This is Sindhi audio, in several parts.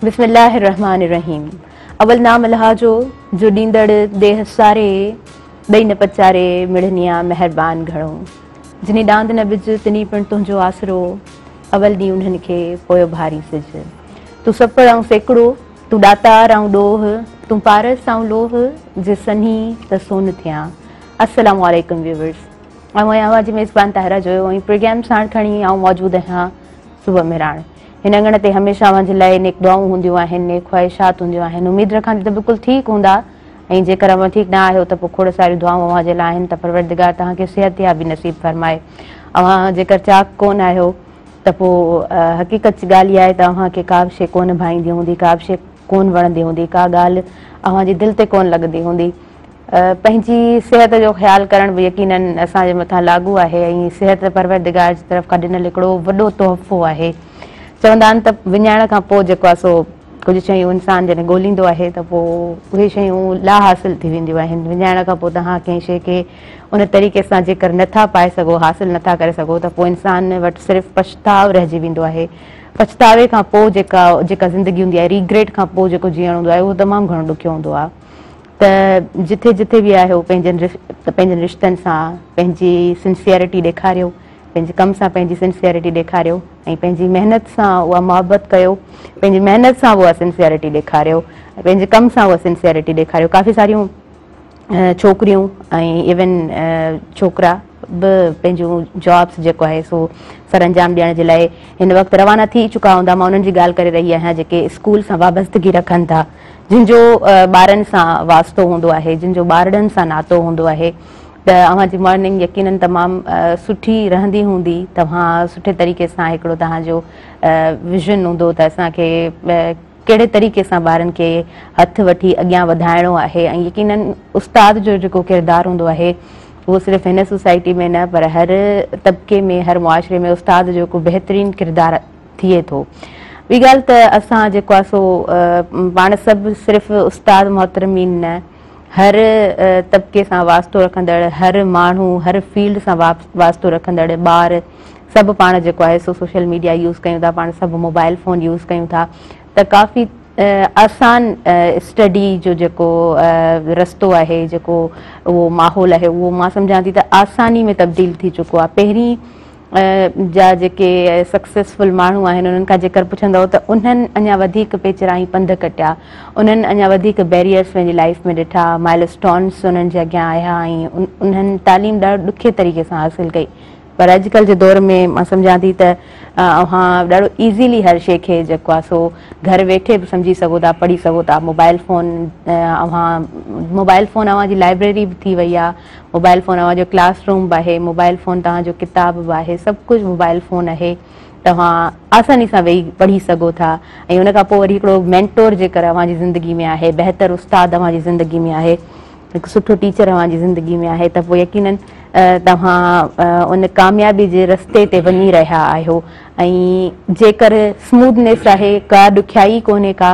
بسم الله الرحمٰن الرحيم اول نام الله جو جو ڏيندڙ ديھ ساري ڏئي نه پچاري مڙنيا مهربان گهڻو جنھي ڏاند نه ٻج تنھي پڻ تنھنجو آسرو اول ڏينھن انھن کي پويو ڀاري سج تون سپڙ آئون سيڪڙو تون ڏاتار آئون ڏوھ تون پارس آئون لوھ جي سنھي ته سون ٿيان السلام عليڪم ويورس آئون آهيان اوهان جي ميزبان طاهرا جويو ۽ پروگرام ساڻ کڻي آئون موجود آهيان صبح مهراڻ هن اڱڻ تي هميشه اوهان جي لاء نيڪ دعائون هونديون آهن، نيڪ خواهشات هونديون آهن. اميد رکان ٿي ته بلڪل ٺيڪ هوندا ۽ جيڪر اوهان ٺيڪ نه آهيو ته پوء کوڙ ساريون دعائون اوهان جي لاء آهن ته پروردگار توهان کي صحتيابي نصيب فرمائي. اوهان جيڪر چاڪ ڪونه آهيو ته پوء حقيقت ڳالهه اها آهي ته اوهان کي ڪابه شيء ڪونه ڀائيندي هوندي، ڪابه شيء ڪونه وڻندي هوندي، ڪا ڳالهه اوهان جي دل تي ڪونه لڳندي هوندي. پنهنجي صحت جو خيال ڪرڻ به يقينن اسان جي مٿان لاڳو آهي ۽ صحت پروردگار جي طرف کان ڏنل هڪڙو وڏو تحفو آهي. چوندا آهن ته وڃائڻ کان پوء جيڪو آهي سو ڪجهه شيون انسان جڏهن ڳوليندو آهي ته پوء اهي شيون لا حاصل ٿي وينديون آهن. وڃائڻ کان پوء توهان ڪنهن شيء کي ان طريقي سان جيڪر نه ٿا پائي سگهو، حاصل نه ٿا ڪري سگهو ته پوء انسان وٽ صرف پڇتاء رهجي ويندو آهي. پڇتاوي کان پوء جيڪا زندگي هوندي آهي، Regret، کان پوء جيڪو جيئڻ هوندو آهي اهو تمام گهڻو ڏکيو هوندو آهي. ته جٿي جٿي به آهيو پنهنجن رشتن سان پنهنجي سنسيئرٽي ڏيکاريو، پنهنجي ڪم سان پنهنجي سنسيئرٽي ڏيکاريو ۽ پنهنجي محنت سان اها محبت ڪيو، پنهنجي محنت سان به اها سنسيئرٽي ڏيکاريو، پنهنجي ڪم سان اها سنسيئرٽي ڏيکاريو، ڪافي ساريون ڇوڪريون ۽ ايون ڇوڪرا. به پنهنجون جابس جيڪو آهي سو سرانجام ڏيڻ جي لاء هن وقت روانا ٿي چڪا هوندا مان انهن جي ڳالهه ڪري رهي آهيان جيڪي اسڪول سان وابستگي رکن ٿا جن جو ٻارن سان واسطو هوندو آهي جن جو ٻارڙن سان ناتو هوندو آهي ته اوهان جي مارننگ يقينن تمام سٺي رهندي هوندي توهان سٺي طريقي سان هڪڙو توهان جو ويزن هوندو ته اسان کي ڪهڙي طريقي سان ٻارن کي هٿ وٺي اڳيان وڌائڻو آهي ۽ يقيناً استاد جو جيڪو ڪردار هوندو آهي اهو صرف هن سوسائٽي ۾ نه پر هر طبقي ۾ هر معاشري ۾ استاد جو هڪ بهترين ڪردار ٿئي ٿو. ٻي ڳالهه ته اسان جيڪو آهي سو پاڻ سڀ صرف استاد محترمين نه هر طبقي سان واسطو رکندڙ هر ماڻهو هر فيلڊ سان واسطو رکندڙ ٻار سڀ پاڻ جيڪو آهي سو سوشل ميڊيا يوز ڪيون ٿا پاڻ سڀ موبائل فون يوز ڪيون ٿا ته ڪافي آسان اسٽڊي جو جيڪو رستو آهي جيڪو اهو ماحول آهي اهو مان سمجهان ٿي ته آساني ۾ تبديل ٿي چڪو آهي پهرين جا جيڪي سڪسيسفل ماڻهو آهن انهن کان جيڪر پڇندو ته انهن اڃا وڌيڪ پيچرائي پنڌ ڪٽيا انهن اڃا وڌيڪ بيريئرس پنهنجي لائف ۾ ڏٺا مائل اسٽونس انهن جي اڳيان آيا ۽ انهن تعليم ڏاڍو ڏکي طريقي سان حاصل ڪئي پر اڄ ڪلهه جي دور ۾ مان سمجهان ٿي ته اوهان ڏاڍو ايزيلي هر شيء کي جيڪو آهي سو گهر ويٺي به سمجهي سگهو ٿا پڙهي سگهو ٿا موبائل فون اوهان موبائل فون اوهان جي لائبريري به ٿي وئي آهي موبائل فون اوهان جو ڪلاس روم به آهي موبائل فون توهان جو ڪتاب به آهي سڀ ڪجهه موبائل فون آهي توهان آساني سان ويهي پڙهي سگهو ٿا ۽ ان کان پوء وري هڪڙو مينٽور جيڪر اوهان جي زندگي ۾ آهي بهتر استاد اوهان جي زندگي ۾ آهي هڪ سٺو ٽيچر اوهان جي زندگي ۾ آهي ته پوء يقينن توهان ان ڪاميابي جي رستي تي وڃي رهيا آهيو ۽ جيڪر سموڌنيس آهي ڪا ڏکيائي ڪونهي ڪا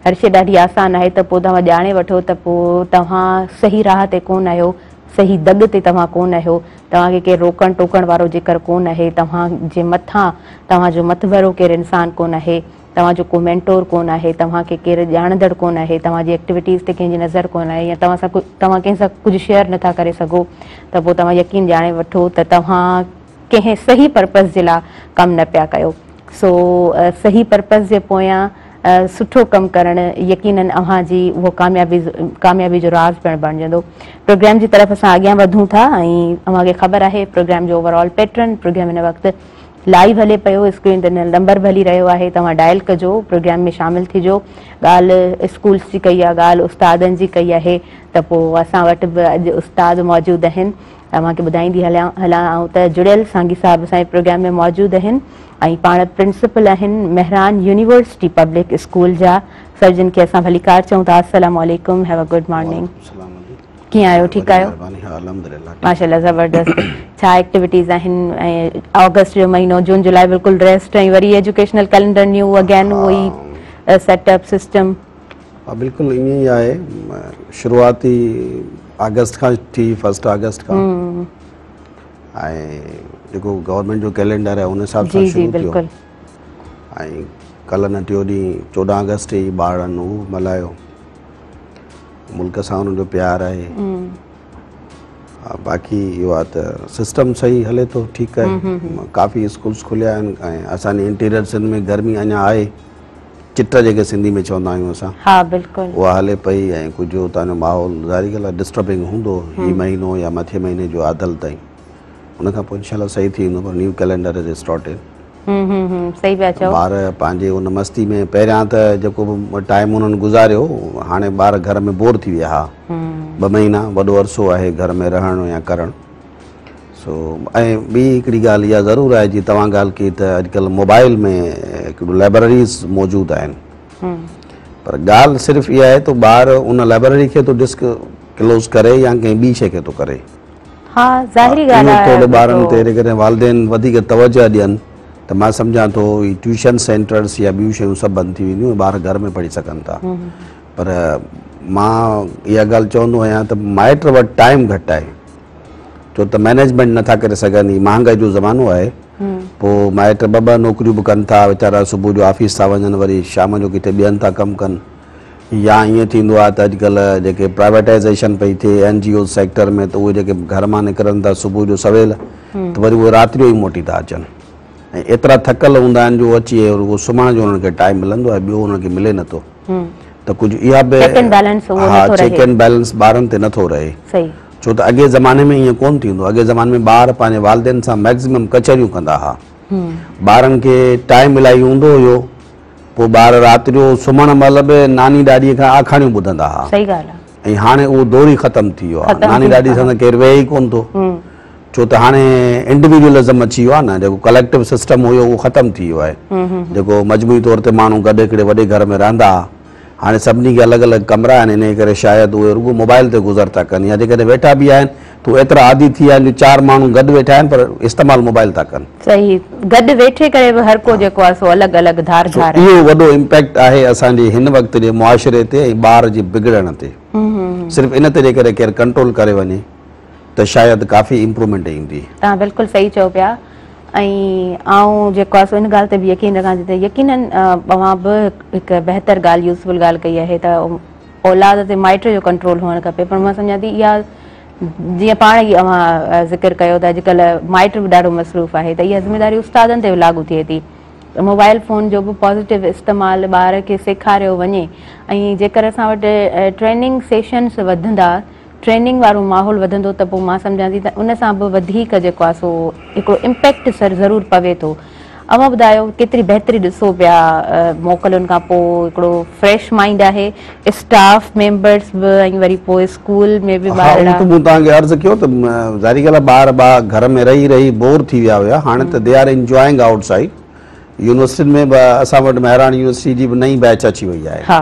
هر شي ڏاڍي آسان آهي ته پوء توهان ڄاڻي وٺو ته پوء توهان صحيح راهه تي ڪون آهيو صحيح دڳ تي توهان ڪون آهيو توهان کي ڪير روڪڻ ٽوڪڻ وارو جيڪر ڪون آهي توهان جي مٿان توهان جو مٿڀرو ڪير انسان ڪون آهي توهان جو ڪو مينٽور ڪونه آهي، توهان کي ڪير ڄاڻندڙ ڪونه آهي، توهان جي ايڪٽيوٽيز تي ڪنهن جي نظر ڪونه آهي يا توهان سان توهان ڪنهن سان ڪجهه شيئر نه ٿا ڪري سگهو ته پوء توهان يقين ڄاڻي وٺو ته توهان ڪنهن صحيح پرپز جي لاء ڪم نه پيا ڪيو. سو صحيح پرپز جي پويان سٺو ڪم ڪرڻ يقينن اوهان جي اهو ڪاميابي ڪاميابي جو راز پڻ بڻجندو. پروگرام جي طرف اسان اڳيان وڌون ٿا ۽ اوهان کي خبر آهي پروگرام جو اوور آل پيٽرن پروگرام هن وقت لائيو هلي پيو اسڪرين تي نمبر به هلي رهيو آهي توهان ڊائل ڪجو پروگرام ۾ شامل ٿجو ڳالهه اسڪولس جي ڪئي آهي ڳالهه استادن جي ڪئي آهي ته پوء اسان وٽ به اڄ استاد موجود اهن توهان کي ٻڌائيندي هلان هلان آئون ته جڙيل سانگي صاحب اسان جي پروگرام ۾ موجود اهن ۽ پاڻ پرنسپل آهن مهران يونيورسٽي پبلڪ اسڪول جا سو جن کي اسان ڀليڪار چئون ٿا السلام عليڪم هيو اي گڊ مارننگ ڪيئن آهيو ٺيڪ آهيو ماشاءالله زبردست ڇا ايڪٽيوٽيز آهن ۽ آگسٽ جو مهينو جون جولاء بلڪل ريسٽ ۽ وري ايجوڪيشنل ڪئلينڊر نيو اگين اهو ئي سيٽ اپ سسٽم ها بلڪل ائين ئي آهي شروعاتي آگسٽ کان ٿي فرسٽ آگسٽ کان ۽ جيڪو گورنمينٽ جو ڪئلينڊر آهي ان حساب سان شروع ٿيو ۽ ڪلهه نه ٽيون ڏينهن چوڏهن آگسٽ ئي ٻارڙن هو ملهايو ملڪ سان انهن جو پيار آهي باقي اهو آهي ته سسٽم صحيح هلي ٿو ٺيڪ آهي ڪافي اسڪولس کليا آهن ۽ اسانجي انٽيريئر سنڌ ۾ گرمي اڃا آهي چٽ جيڪي سنڌي ۾ چوندا آهيون اسان ها بلڪل اها هلي پئي ۽ ڪجهه اتان جو ماحول ظاهري ڳالهه آهي ڊسٽربنگ هوندو هي مهينو يا مٿي مهيني جو آڌل تائين ان کان پوء انشاءالله صحيح ٿي ويندو پر new calendar is started hmm hmm صحيح پيا چئو ٻار پنهنجي ان مستي ۾ پهريان ته جيڪو به ٽائيم انهن گذاريو هاڻي ٻار گهر ۾ بور ٿي ويا ها ٻه مهينا وڏو عرصو آهي گهر ۾ رهڻ يا ڪرڻ سو ۽ ٻي هڪڙي ڳالهه اها ضرور آهي جي توهان ڳالهه ڪئي ته اڄڪلهه موبائل ۾ هڪڙيون لائبرريز موجود آهن پر ڳالهه صرف اها آهي ته ٻار ان لائبرري کي ٿو ڊسڪ ڪلوز ڪري يا ڪنهن ٻي شيء کي ٿو ڪري ها ظاهري ڳالهه آهي اهو ٿورو ٻارن تي جيڪڏهن والدين وڌيڪ توجهه ڏين ته مان سمجهان ٿو هي ٽيوشن سينٽرز يا ٻيون شيون سڀ بند ٿي وينديون ٻار گهر ۾ پڙهي سگهن ٿا پر مان اها ڳالهه چوندو آهيان ته مائٽ وٽ ٽائيم گهٽ آهي ڇو ته مينيجمينٽ نٿا ڪري سگهن هي مهانگائي جو زمانو آهي پوء مائٽ ٻه ٻه نوڪريون به ڪن ٿا ويچارا صبح جو آفيس ٿا وڃن وري شام جو ڪٿي ٻيهن ٿا ڪم ڪن يا ائين ٿيندو آهي ته اڄڪلهه جيڪي پرائيويٽائيزيشن پئي ٿئي اين جي اوز سيڪٽر ۾ ته اهي جيڪي گهر مان نڪرن ٿا صبح جو سويل ته وري اهي رات جو ئي موٽي ٿا اچن ۽ ايترا ٿڪل هوندا آهن جو اچي رڳو سمهڻ جو انهن کي ٽائيم ملندو آهي ٻيو انهن کي ملي نه ٿو ته ڪجهه اها به چيڪ اينڊ بيلنس اهو نه ٿو رهي چيڪ اينڊ بيلنس ٻارن تي نه ٿو رهي صحيح ڇو ته اڳي زماني ۾ ائين ڪونه ٿيندو اڳي زماني ۾ ٻار پنهنجي والدين سان ميڪزيمم ڪچهريون ڪندا هئا ٻارن کي ٽائيم الاهي هوندو هيو پوء ٻار رات جو سمهڻ مهل به ناني ڏاڏيء کان آکاڻيون ٻڌندا ها. صحيح ڳالهه آهي. ۽ هاڻي اهو دور ئي ختم ٿي ويو آهي. ناني ڏاڏي سان ته ڪير ويهي ئي ڪونه ٿو. ڇو ته هاڻي انڊيويڊوئلزم اچي ويو آهي نه. جيڪو ڪليڪٽو سسٽم هيو اهو ختم ٿي ويو آهي. جيڪو مجموعي طور تي ماڻهو گڏ هڪڙي وڏي گهر ۾ رهندا ها. هاڻي سڀني کي الڳ الڳ ڪمرا آهن انهيء ڪري شايد اهي رڳو موبائيل تي گذر ٿا ڪن يا جيڪڏهن ويٺا به آهن ته هو ايترا عادي ٿي ويا آهن جو چار ماڻهو گڏ ويٺا آهن پر استعمال موبائيل ٿا ڪن. صحيح گڏ ويٺي ڪري به هر ڪو جيڪو آهي سو الڳ الڳ ڌار ڌار آهي. سو اهو وڏو امپيڪٽ آهي اسان جي هن وقت جي معاشري تي ۽ ٻار جي بگڙڻ تي. صرف ان تي جيڪڏهن ڪير ڪنٽرول ڪري وڃي. ته شايد ڪافي امپرومينٽ ايندي. توهان بلڪل صحيح چئو پيا ۽ آئون جيڪو آسي ان ڳالهه تي به يقين رکان ٿي ته يقينن اوهان به هڪ بهتر ڳالهه يوزفل ڳالهه ڪئي آهي ته اولاد تي مائٽ جو ڪنٽرول هئڻ کپي پر مان سمجهان ٿي اها جيئن پاڻ ئي اوهان ذڪر ڪيو ته اڄڪلهه مائٽ به ڏاڍو مصروف آهي ته اها ذميداري استادن تي به لاڳو ٿئي ٿي ته موبائل فون جو به پازيٽو استعمال ٻار کي سيکاريو وڃي ۽ جيڪر اسان وٽ ٽريننگ سيشنس وڌندا ٽريننگ وارو ماحول وڌندو ته پوء مان سمجهان ٿي ته ان سان به وڌيڪ جيڪو آهي سو هڪڙو امپيڪٽ ضرور پوي ٿو. اوهان ٻڌايو ڪيتري بهتري ڏسو پيا موڪلن کان پوء هڪڙو فريش مائنڊ آهي اسٽاف ميمبرس به ۽ وري پوء اسڪول ۾ به ٻارڙا. ها اهو ته مون توهان کي عرض ڪيو ته ظاهري ڳالهه آهي ٻار ٻا گهر ۾ رهي رهي بور ٿي ويا هيا هاڻي ته they are enjoying outside يونيورسٽين ۾ به اسان وٽ مهراڻ يونيورسٽي جي به نئين بيچ اچي وئي آهي.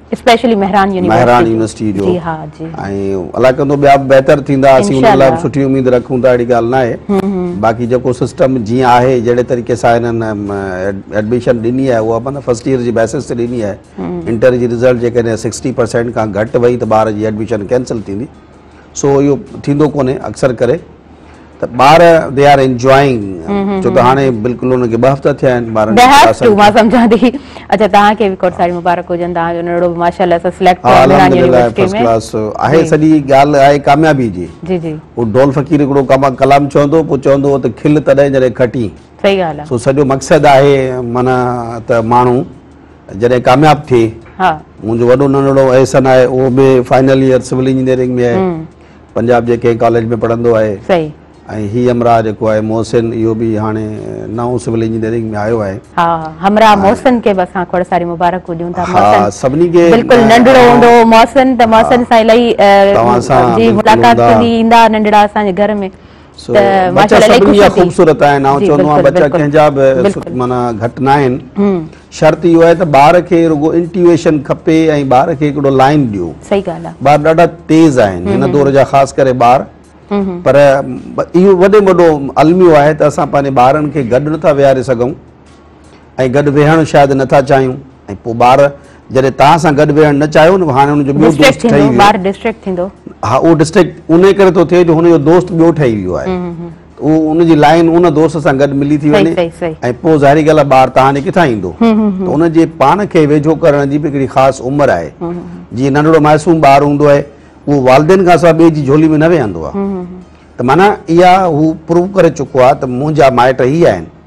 Specially Mehran university Mehran university جو جي ها جي ۽ الله ڪندو ٻيا به بهتر ٿيندا اسين ان لاء سٺي اميد رکون ٿا اهڙي ڳالهه ناهي باقي جيڪو سسٽم جيئن آهي جهڙي طريقي سان هنن ايڊميشن ڏني آهي اها مطلب فرسٽ ايئر جي بيسس تي ڏني آهي انٽر جي رزلٽ جيڪڏهن سڪسٽي پرسينٽ کان گهٽ وئي ته ٻار جي ايڊميشن ڪينسل ٿيندي سو اهو ٿيندو ڪونهي اڪثر ڪري ته ٻار دي آر انجوائنگ ڇو ته هاڻي بلڪل ان کي ٻه هفتا ٿيا آهن ٻارن کي مان سمجهان ٿي اچا توهان کي به کوڙ ساري مبارڪ هجن توهان جو نرڙو به ماشاءالله سا سليڪٽ ٿيو آهي مهراڻ يونيورسٽي ۾ فرسٽ ڪلاس آهي سڄي ڳالهه آهي ڪاميابي جي جي جي هو ڍول فقير هڪڙو ڪلام چوندو پوء چوندو هو ته کل تڏهن جڏهن کٽين صحيح ڳالهه آهي سو سڄو مقصد آهي معنيٰ ته ماڻهو جڏهن ڪامياب ٿي ها منهنجو وڏو ننڙو احسن آهي اهو به فائنل ييئر سول انجنيئرنگ ۾ آهي پنجاب جي ڪنهن ڪاليج ۾ پڙهندو آهي صحيح ۽ هي همراهه جيڪو آهي محسن اهو به هاڻي نئون سول انجنيئرنگ ۾ آيو آهي ها همراهه محسن کي به اسان کوڙ ساري مبارڪون ڏيون ٿا ها سڀني کي بلڪل ننڙو هوندو هو محسن ته محسن سان الائي جي ملاقات ٿيندي ايندا ننڙا اسان جي گهر ۾ سو بچا سڀني جا خوبصورت آهن آئون چوندو آهيان بچا ڪنهن جا به معنيٰ گهٽ نه آهن شرط اهو آهي ته ٻار کي رڳو انٽيويشن کپي ۽ ٻار کي هڪڙو لائن ڏيو صحيح ڳالهه آهي ٻار ڏاڍا تيز آهن هن دور جا خاص ڪري ٻار پر اهو وڏي وڏو الميو آهي ته اسان پنهنجي ٻارن کي گڏ نٿا ويهاري سگهون ۽ گڏ ويهڻ شايد نه ٿا چاهيون ۽ پوء ٻار جڏهن توهان سان گڏ ويهڻ نه چاهيو نه هاڻي هن جو ٻيو دوست ٺهي ويو ٻار ڊسٽريڪٽ ٿيندو ها اهو ڊسٽريڪٽ انهي ڪري ٿو ٿئي جو هن جو دوست ٻيو ٺهي ويو آهي اهو ان جي لائين ان دوست سان گڏ ملي ٿي وڃي ۽ پوء ظاهري ڳالهه آهي ٻار توهان ڏي ڪٿان ايندو ته ان جي پاڻ کي ويجهو ڪرڻ جي به هڪڙي خاص عمر آهي جيئن ننڍڙو معصوم ٻار هوندو آهي اهو والدين کان سواء ٻئي جي جھولي ۾ نه ويهندو آهي ته معنيٰ اها هو پروف ڪري چڪو آهي ته منهنجا مائٽ هي آهن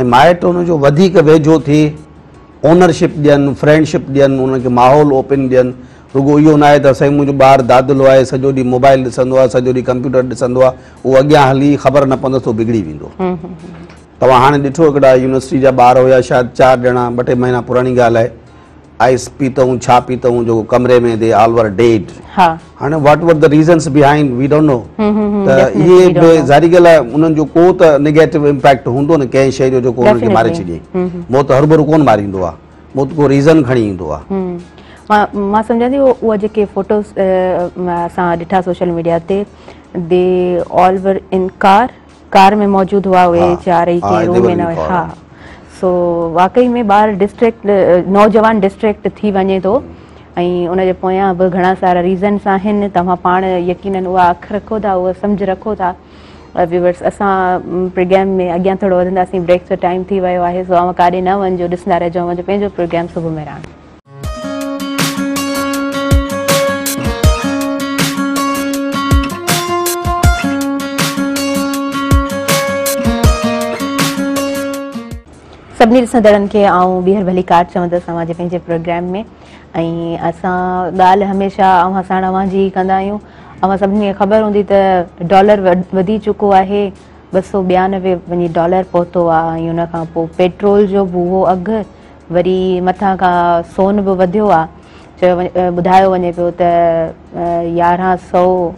۽ مائٽ ان جو وڌيڪ ويجهو ٿي اونرشپ ڏين فرينڊشپ ڏين ان کي ماحول اوپن ڏين رڳو اهو ناهي ته سائين منهنجو ٻار دادلو آهي سڄو ڏينهن موبائل ڏسندو آهي سڄو ڏينهن ڪمپيوٽر ڏسندو آهي اهو اڳيان هلي خبر نه پوندس اهو بگڙي ويندو توهان هاڻي ڏٺو هڪڙا يونيورسٽي جا ٻار هيا شايد چار ڄڻا ٻه ٽي مهينا پراڻي ڳالهه آهي آئس پيتئون ڇا پيتئون جو ڪمري ۾ دي آل ور ڊيڊ هاڻي what were the reasons behind we don't know ته اهي به ظاهري ڳالهه آهي انهن جو ڪو ته نيگيٽو امپيڪٽ هوندو نه ڪنهن شيء جو جو ڪو انهن کي ماري ڇڏي موت هر ڀرو ڪونه ماريندو آهي موت ڪو ريزن کڻي ايندو آهي مان سمجهان ٿي اهي جيڪي فوٽوز اسان ڏٺا سوشل ميڊيا تي دي آل ور ان ڪار ڪار ۾ موجود هئا اهي چار ئي ڪنهن روم ۾ نه هئا ها سو واقعي ۾ ٻار ڊسٽريڪٽ نوجوان ڊسٽريڪٽ ٿي وڃي ٿو ۽ ان جي پويان به گهڻا سارا ريزنس آهن توهان پاڻ يقينن اها اک رکو ٿا اها سمجھ رکو ٿا ويورس اسان پروگرام ۾ اڳيان ٿورو وڌنداسين بريڪ جو ٽائيم ٿي ويو آهي سو اوهان ڪاڏي نه وڃجو ڏسندا رهجو اوهان جو پنهنجو پروگرام صبح مهراڻ سڀني ڏسندڙن کي آئون ٻيهر ڀلي ڪار چوندس اوهان جي پنهنجي پروگرام ۾ ۽ اسان ڳالهه هميشه اوهان ساڻ اوهان جي ڪندا آهيون اوهان سڀني کي خبر هوندي ته ڊالر وڌي چڪو آهي ٻه سو ٻيانوي وڃي ڊالر پهتو آهي ۽ ان کان پوء پيٽرول جو به اهو اگهه وري مٿان کان سون به وڌيو آ، چيو ٻڌايو وڃي پيو ته يارهن سؤ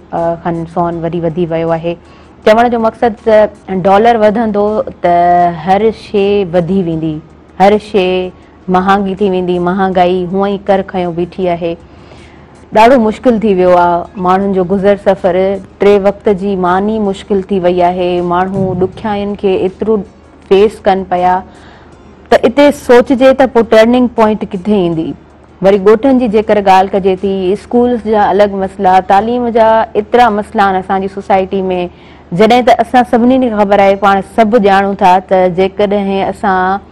کن سون وري وڌي ويو آهي. چوڻ جو مقصد ته ڊالر وڌندو ته هر شي وڌي ويندي، هر شي مهانگي ٿي ويندي، مهانگائي هونء ئي ڪر کنيو بيٺي آهي. ڏاڍو مشڪل ٿي ويو آ، ماڻهن جو گذر سفر ٽي وقت جي مان ئي مشڪل ٿي وئي آهي، ماڻهو ڏکيائين کي ايترو. فيس ڪن پيا ته اتي سوچجي ته پوء ٽرننگ پوائنٽ ڪٿي ايندي؟ وري ڳوٺن جي جيڪر ڳالهه ڪجي ٿي، اسڪولز جا الڳ مسئلا، تعليم جا ايترا مسئلا آهن اسان جي سوسائٽي ۾ جڏهن ته اسان سڀني کي خبر آهي پاڻ سڀ ڄاڻون ٿا ته جيڪڏهن اسان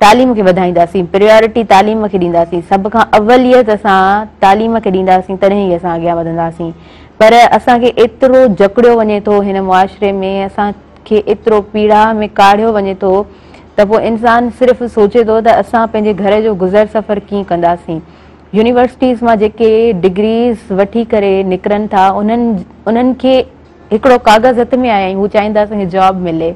تعليم کي وڌائينداسين، پريارٽي تعليم کي ڏينداسين، سڀ کان اوليت اسان تعليم کي ڏينداسين تڏهن ئي اسان اڳيان وڌنداسين پر اسان کي ايترو جڪڙيو وڃي ٿو هن معاشري ۾ اسان کي ايترو پيڙاء ۾ ڪاڙهيو وڃي ٿو ته پوء انسان صرف سوچي ٿو ته اسان پنهنجي گهر جو گذر سفر ڪيئن ڪنداسين. يونيورسٽيز مان جيڪي ڊگريز وٺي ڪري نڪرن ٿا انهن انهن کي هڪڙو ڪاغذ هٿ ۾ آهي ۽ هو چاهين ٿا اسان کي جاب ملي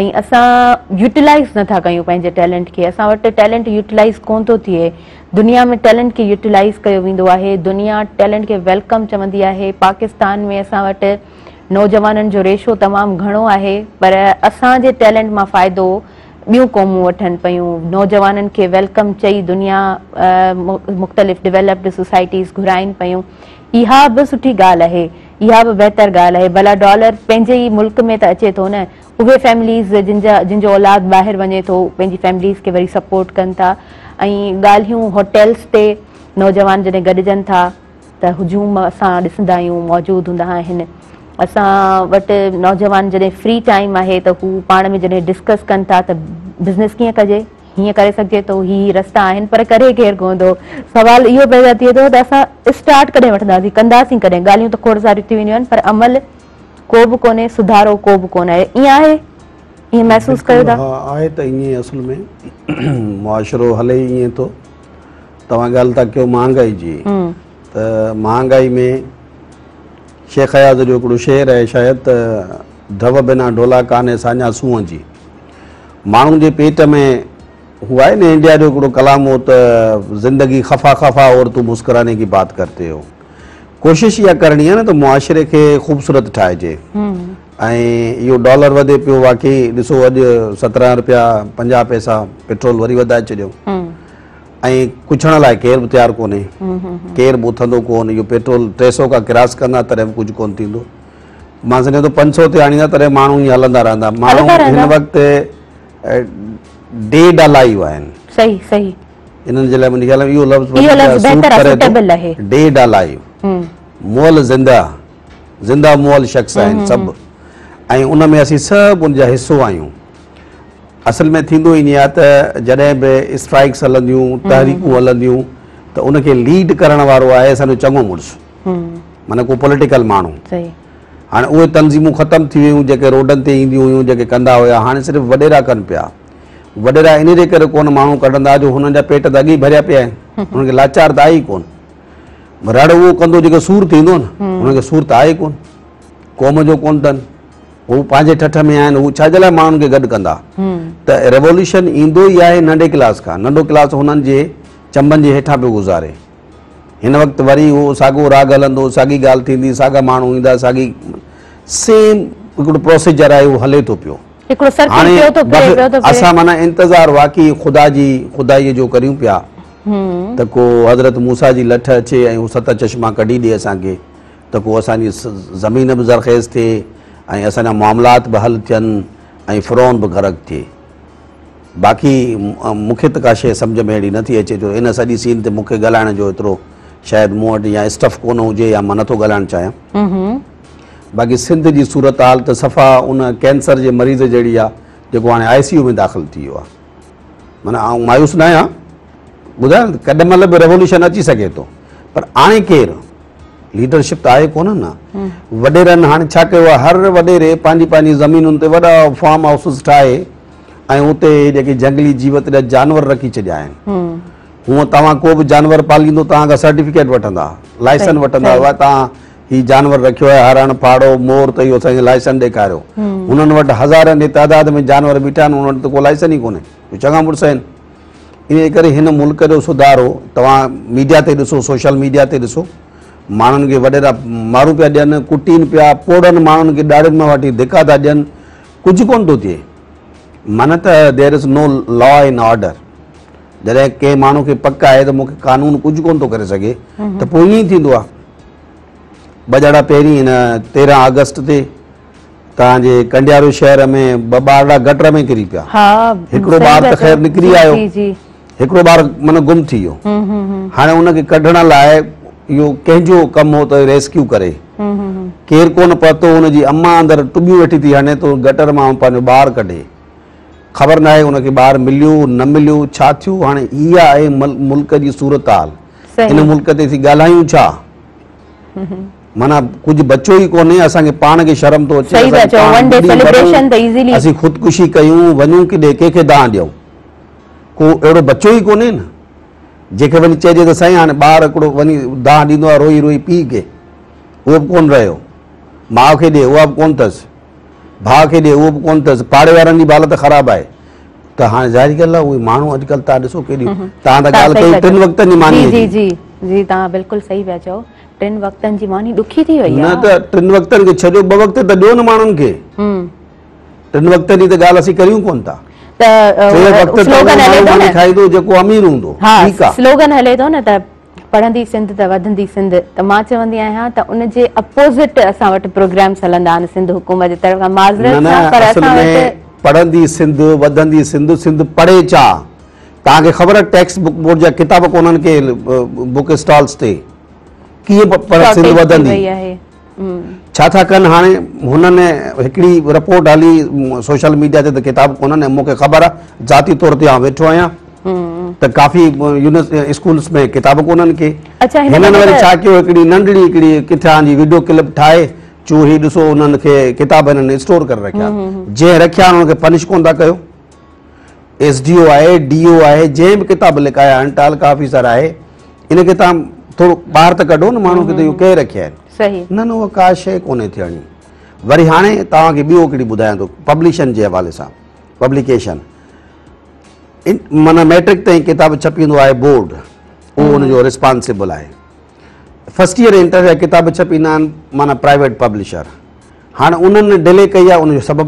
۽ اسان يوٽيلائز نه ٿا ڪيون پنهنجي ٽيلنٽ کي اسان وٽ ٽيلنٽ يوٽيلائز ڪون ٿو ٿئي دنيا ۾ ٽيلنٽ کي يوٽيلائز ڪيو ويندو آهي دنيا ٽيلنٽ کي ويلڪم چوندي آهي پاڪستان ۾ اسان وٽ نوجوانن جو ريشو تمام گهڻو آهي پر اسان جي ٽيلنٽ مان فائدو ٻيون قومون وٺن پيون، نوجوانن کي ويلڪم چئي دنيا مختلف ڊولپڊ سوسائٽيز گهرائين پيون، اها به سٺي ڳالهه آهي، اها به بهتر ڳالهه آهي، ڀلا ڊالر پنهنجي ئي ملڪ ۾ ته اچي ٿو نه، اهي فيمليز جن جا جن جو اولاد ٻاهر وڃي ٿو پنهنجي فيمليز کي وري سپورٽ ڪن ٿا ۽ ڳالهيون هوٽيلز تي نوجوان جڏهن گڏجن ٿا، ته هجوم اسان ڏسندا آهيون موجود هوندا آهن اسان وٽ نوجوان جڏهن فري ٽائيم آهي ته هو پاڻ ۾ جڏهن ڊسڪس ڪن ٿا ته بزنس ڪيئن ڪجي هيئن ڪري سگهجي ٿو هي هي رستا آهن پر ڪري ڪير ڪون ٿو سوال اهو پيدا ٿئي ٿو ته اسان اسٽارٽ ڪڏهن وٺنداسين ڪنداسين ڪڏهن ڳالهيون ته کوڙ ساريون ٿي وينديون آهن پر عمل ڪو به ڪونهي سڌارو ڪو به ڪونه آهي ائين آهي ائين محسوس ڪيو ٿا آهي ته ائين اصل ۾ معاشرو هلي ائين ٿو توهان ڳالهه ٿا ڪيو مهانگائي جي ته مهانگائي ۾ شيخ اياز جو هڪڙو شعر آهي شايد ته ڍؤ بنا ڍولا ڪانهي ساڃاهه سونهن جي ماڻهو جي پيٽ ۾ هو آهي نه انڊيا جو هڪڙو ڪلام هو ته زندگي خفا خفا اور تون مسڪراني ڪي بات ڪرتي هو ڪوشش اها ڪرڻي آهي نه ته معاشري کي خوبصورت ٺاهجي ۽ اهو ڊالر وڌي پيو واقعي ڏسو اڄ سترهن رپيا پنجاهه پئسا پيٽرول وري وڌائي ڇڏيو ۽ ڪڇڻ لاء ڪير به تيار ڪونهي ڪير به اٿندو ڪون اهو پيٽرول ٽي سو کان ڪراس ڪندا تڏهن به ڪجهه ڪون ٿيندو مان سمجهان ٿو پنج سو تي آڻيندا تڏهن ماڻهو ائين هلندا رهندا ماڻهو هن وقت ڊيڊ الائيو آهن صحيح صحيح انهن جي لاء منهنجي خيال اهو لفظ اهو لفظ بهتر آهي سوٽيبل آهي ڊيڊ الائيو مول زنده زنده مول شخص آهن سڀ ۽ ان ۾ اسين سڀ ان جا حصو آهيون اصل ۾ ٿيندو ائين آهي ته جڏهن به اسٽرائڪس هلنديون تحريڪون هلنديون ته ان کي ليڊ ڪرڻ وارو آهي اسان جو چڱو مڙس معنيٰ ڪو پوليٽيڪل ماڻهو هاڻي اهي تنظيمون ختم ٿي ويون جيڪي روڊن تي اينديون هيون جيڪي ڪندا هيا هاڻي صرف وڏيرا ڪن پيا وڏيرا ان جي ڪري ڪون ماڻهو ڪڍندا جو هنن جا پيٽ ته اڳي ڀريا پيا آهن هنن کي لاچار ته آهي ڪون رڙ اهو ڪندو جيڪو سور ٿيندو نه هنن کي سور ته آهي ڪون قوم جو ڪون اٿن هو پنهنجي ٺٺ ۾ آهن، هو ڇا جي لاء ماڻهن کي گڏ ڪندا؟ ته ريولوشن ايندو ئي آهي ننڍي ڪلاس کان، ننڍو ڪلاس هنن جي چنبن جي هيٺان پيو گذاري. هن وقت وري اهو ساڳو راڳ هلندو، ساڳي ڳالهه ٿيندي، ساڳا ماڻهو ايندا، ساڳي سيم هڪڙو پروسيجر آهي اهو هلي ٿو پيو. هڪڙو سرڪل پيو ٿو پلي پيو ٿو پئي. اسان معنيٰ انتظار واقعي خدا جي خدائيء جو ڪريون پيا ته ڪو حضرت موسيٰ جي لٺ اچي ۽ هو ست چشما ڪڍي ڏي اسان کي ته ڪو اسان جي زمين به زرخيز ٿئي ۽ اسان جا معاملات به حل ٿين ۽ فرعون به غرق ٿئي باقي مون کي ته ڪا شيء سمجھ ۾ اهڙي نٿي اچي جو ان سڄي سين تي مون کي ڳالهائڻ جو ايترو شايد مون وٽ يا اسٽف ڪونه هجي يا مان نٿو ڳالهائڻ چاهيان باقي سنڌ جي صورتحال ته صفا ان ڪينسر جي مريض جهڙي آهي جيڪو هاڻي آء سي يو ۾ داخل ٿي ويو آهي معنيٰ آئون مايوس نه آهيان، ٻڌايان ته ڪڏهن مهل به ريولوشن اچي سگهي ٿو پر آڻي ڪير؟ ليڊرشپ ته آهي ڪونه نه، وڏيرن هاڻي ڇا ڪيو آهي هر وڏيري پنهنجي پنهنجي زمينن تي وڏا فارم هائوسز ٺاهي ۽ اتي جيڪي جهنگلي جيوت جا جانور رکي ڇڏيا آهن، هونء توهان ڪو به جانور پاليندو توهان کان سرٽيفڪيٽ وٺندا، لائسن وٺندا، توهان هي جانور رکيو آهي هرڻ، پهاڙو، مور ته اهو سائين لائسن ڏيکاريو. هنن وٽ هزارن جي تعداد ۾ جانور بيٺا آهن، انهن وٽ ته ڪو لائسن ئي ڪونهي. اهي چڱا مڙس آهن. انهيء ڪري هن ملڪ جو سڌارو توهان ميڊيا تي ڏسو، سوشل ميڊيا تي ڏسو، ماڻهن کي وڏيرا مارون پيا ڏين، ڪٽين پيا، پوڙهن ماڻهن کي ڏاڙهين مان واٽي ڌڪا ٿا ڏين، ڪجهه ڪونه ٿو ٿئي. معنيٰ ته there is no law and order. جڏهن ڪنهن ماڻهو کي پڪ آهي ته مون کي قانون ڪجهه ڪونه ٿو ڪري سگهي ته پوء ائين ئي ٿيندو آهي. ٻه ڄاڙا پهرين ان تيرهن آگسٽ تي توهان جي ڪنڊيارو شهر ۾ ٻه ٻارڙا گٽر ۾ ڪري پيا. هڪڙو ٻار ته خير نڪري آيو. هڪڙو ٻار معنيٰ گم ٿي ويو. هاڻي ان کي ڪڍڻ لاء اهو ڪنهن جو ڪم هو ته ريسڪيو ڪري. ڪير ڪونه پهتو. ان جي امان اندر ٽٻيون ويٺي ٿي هڻي ته گٽر مان پنهنجو ٻار ڪڍي. خبر ناهي ان کي ٻار مليو نه مليو ڇا ٿيو. هاڻي اها آهي ملڪ جي صورتحال. ان ملڪ تي سي ڳالهايون ڇا؟ معنيٰ ڪجهه بچو ئي ڪونهي، اسان کي پاڻ کي شرم ٿو اچي، اسين خودڪشي ڪيون، وڃون ڪيڏي، ڪنهن کي دانهن ڏيون؟ ڪو اهڙو بچو ئي ڪونهي نه، جنهن کي وڃي چئجي ته سائين هاڻي ٻار هڪڙو وڃي دانهن ڏيندو آهي روئي روئي پيء کي، اهو به ڪونه رهيو، ماء کي ڏي، اها به ڪونه اٿس. ڀاء کي ڏي اهو به ڪونه اٿس پاڙي وارن جي به حالت خراب آهي ته هاڻي ظاهري ڳالهه آهي اهي ماڻهو اڄڪلهه تان ڏسو ڪيڏي تان ته ڳالهه ڪئي ٽن وقتن جي ماني جي جي جي تان بلڪل صحيح پيا چئو ٽن وقتن جي ماني ڏکي ٿي وئي نه ته ٽن وقتن کي ڇڏيو ٻه وقت ته ڏيو نه ماڻهن کي ٽن وقتن جي ته ڳالهه اسين ڪريون ڪونه ٿا ٽي وقت ته ماڻهو کائيندو جيڪو امير هوندو ٺيڪ آهي سلوگن هلي ٿو نه ته پڙهندي سنڌ ته وڌندي سنڌ ته مان چوندي آهيان ته ان جي اپوزٽ اسان وٽ پروگرامز هلندا آهن سنڌ حڪومت جي طرفان معذرت سان پر اسان وٽ پڙهندي سنڌ وڌندي سنڌ سنڌ پڙهي چا توهان کي خبر آهي ٽيڪسٽ بڪ بورڊ جا ڪتاب ڪونهن ڪي بڪ اسٽالز تي ڪيئن سنڌ وڌندي ڇا ٿا ڪن هاڻي هنن هڪڙي رپورٽ هلي سوشل ميڊيا تي ته ڪتاب ڪونهن ۽ مون کي خبر آ ذاتي طور تي آئون ويٺو آهيان ته ڪافي اسڪولس ۾ ڪتاب ڪونهن ڪي هنن وري ڇا ڪيو هڪڙي ننڍڙي هڪڙي ڪٿان جي ويڊيو ڪلپ ٺاهي چون هي ڏسو هنن کي ڪتاب هنن اسٽور ڪري رکيا جنهن رکيا هنن کي پنش ڪون ٿا ڪيو ايس ڊي او آهي، ڊي او آهي، جنهن به ڪتاب لکايا آهن، تعلقه آفيسر آهي، ان کي تان ٿورو ٻاهر ته ڪڍو نه ماڻهو کي ته اهو ڪنهن رکيا آهن. صحيح. نه نه اها ڪا شيء ڪونهي ٿيڻي. وري هاڻي توهان کي ٻيو هڪڙي ٻڌايان ٿو پبلشن جي حوالي سان پبليڪيشن معنيٰ ميٽرڪ تائين ڪتاب ڇپيندو آهي بورڊ اهو ان جو رسپانسبل آهي فرسٽ ايئر انٽر جا ڪتاب ڇپيندا آهن معنيٰ پرائيويٽ پبلشر هاڻي انهن ڊلي ڪئي آهي ان جو سبب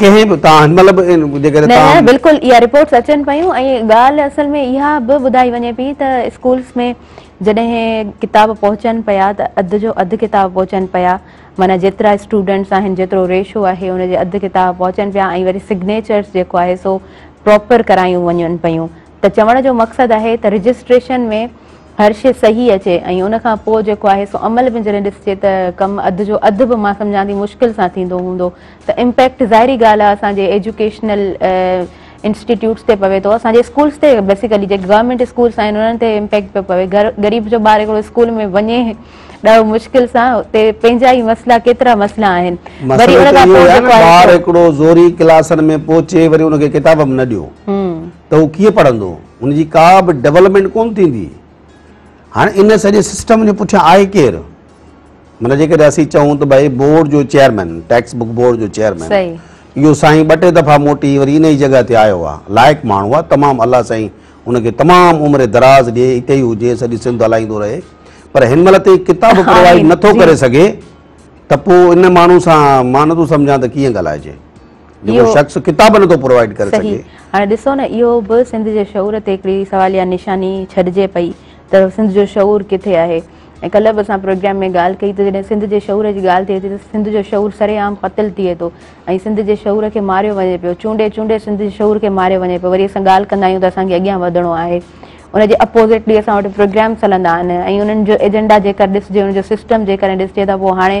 ڪنهن به تان هن مهل به جيڪڏهن نه نه بلڪل اها رپورٽس اچن پيون ۽ ڳالهه اصل ۾ اها به ٻڌائي وڃي پئي ته اسڪولس ۾ جڏهن ڪتاب پهچن پيا ته اڌ جو اڌ ڪتاب پهچن پيا معنيٰ جيترا اسٽوڊنٽس آهن جيترو ريشو آهي ان جي اڌ ڪتاب پهچن پيا ۽ وري سگنيچرس جيڪو آهي سو پراپر ڪرايون وڃن پيون ته چوڻ جو مقصد آهي ته رجسٽريشن ۾ هر شيء صحيح اچي ۽ ان کان پوء جيڪو آهي سو عمل ۾ جڏهن ڏسجي ته ڪم اڌ جو اڌ به مان سمجهان ٿي مشڪل سان ٿيندو هوندو ته امپيڪٽ ظاهري ڳالهه آهي اسان جي ايجوڪيشنل انسٽيٽيوٽس تي پوي ٿو اسان جي اسڪولس تي بيسيڪلي جيڪي گورنمينٽ اسڪولس آهن انهن تي امپيڪٽ پيو پوي غريب جو ٻار هڪڙو اسڪول ۾ وڃي ڏاهو مشڪل سان اتي پنهنجا ئي مسئلا ڪيترا مسئلا آهن وري ان کان پوء جيڪو آهي ٻار هڪڙو زوري ڪلاسن ۾ پهچي وري ان کي ڪتاب به نه ڏيو ته هو ڪيئن پڙهندو، ان جي ڪا به ڊولپمينٽ ڪونه ٿيندي. هاڻي ان سڄي سسٽم جي پٺيان آهي ڪير؟ معنيٰ جيڪڏهن اسين چئون ته ڀائي بورڊ جو چيئرمين، ٽيڪسٽ بڪ بورڊ جو چيئرمين، اهو سائين ٻه ٽي دفعا موٽي وري ان ئي جڳهه تي آيو آهي، لائق ماڻهو آهي، تمام الله سائين ان کي تمام عمر دراز ڏي، اتي ئي هجي، سڄي سنڌ هلائيندو رهي، پر هن مهل تائين ڪتاب پرووائيڊ نٿو ڪري سگهي ته پوء ان ماڻهو سان مان نٿو سمجهان ته ڪيئن ڳالهائجي. جيڪو شخص ڪتاب نٿو پرووائيڊ ڪري سگهي. صحيح هاڻي ڏسو نه اهو به سنڌ جي شعور تي هڪڙي سواليه نشاني ڇڏجي پئي ته سنڌ جو شعور ڪٿي آهي ۽ ڪلهه به اسان پروگرام ۾ ڳالهه ڪئي ته جڏهن سنڌ جي شعور جي ڳالهه ٿئي ٿي ته سنڌ جو شعور سري عام قتل ٿئي ٿو ۽ سنڌ جي شعور کي ماريو وڃي پيو چونڊي چونڊي سنڌ جي شعور کي ماريو وڃي پيو وري اسان ڳالهه ڪندا آهيون ته اسان کي اڳيان وڌڻو آهي ان جي اپوزٽلي اسان وٽ پروگرامس هلندا آهن ۽ انهن جو ايجنڊا جيڪر ڏسجي ان جو سسٽم جيڪڏهن ڏسجي ته پوء هاڻي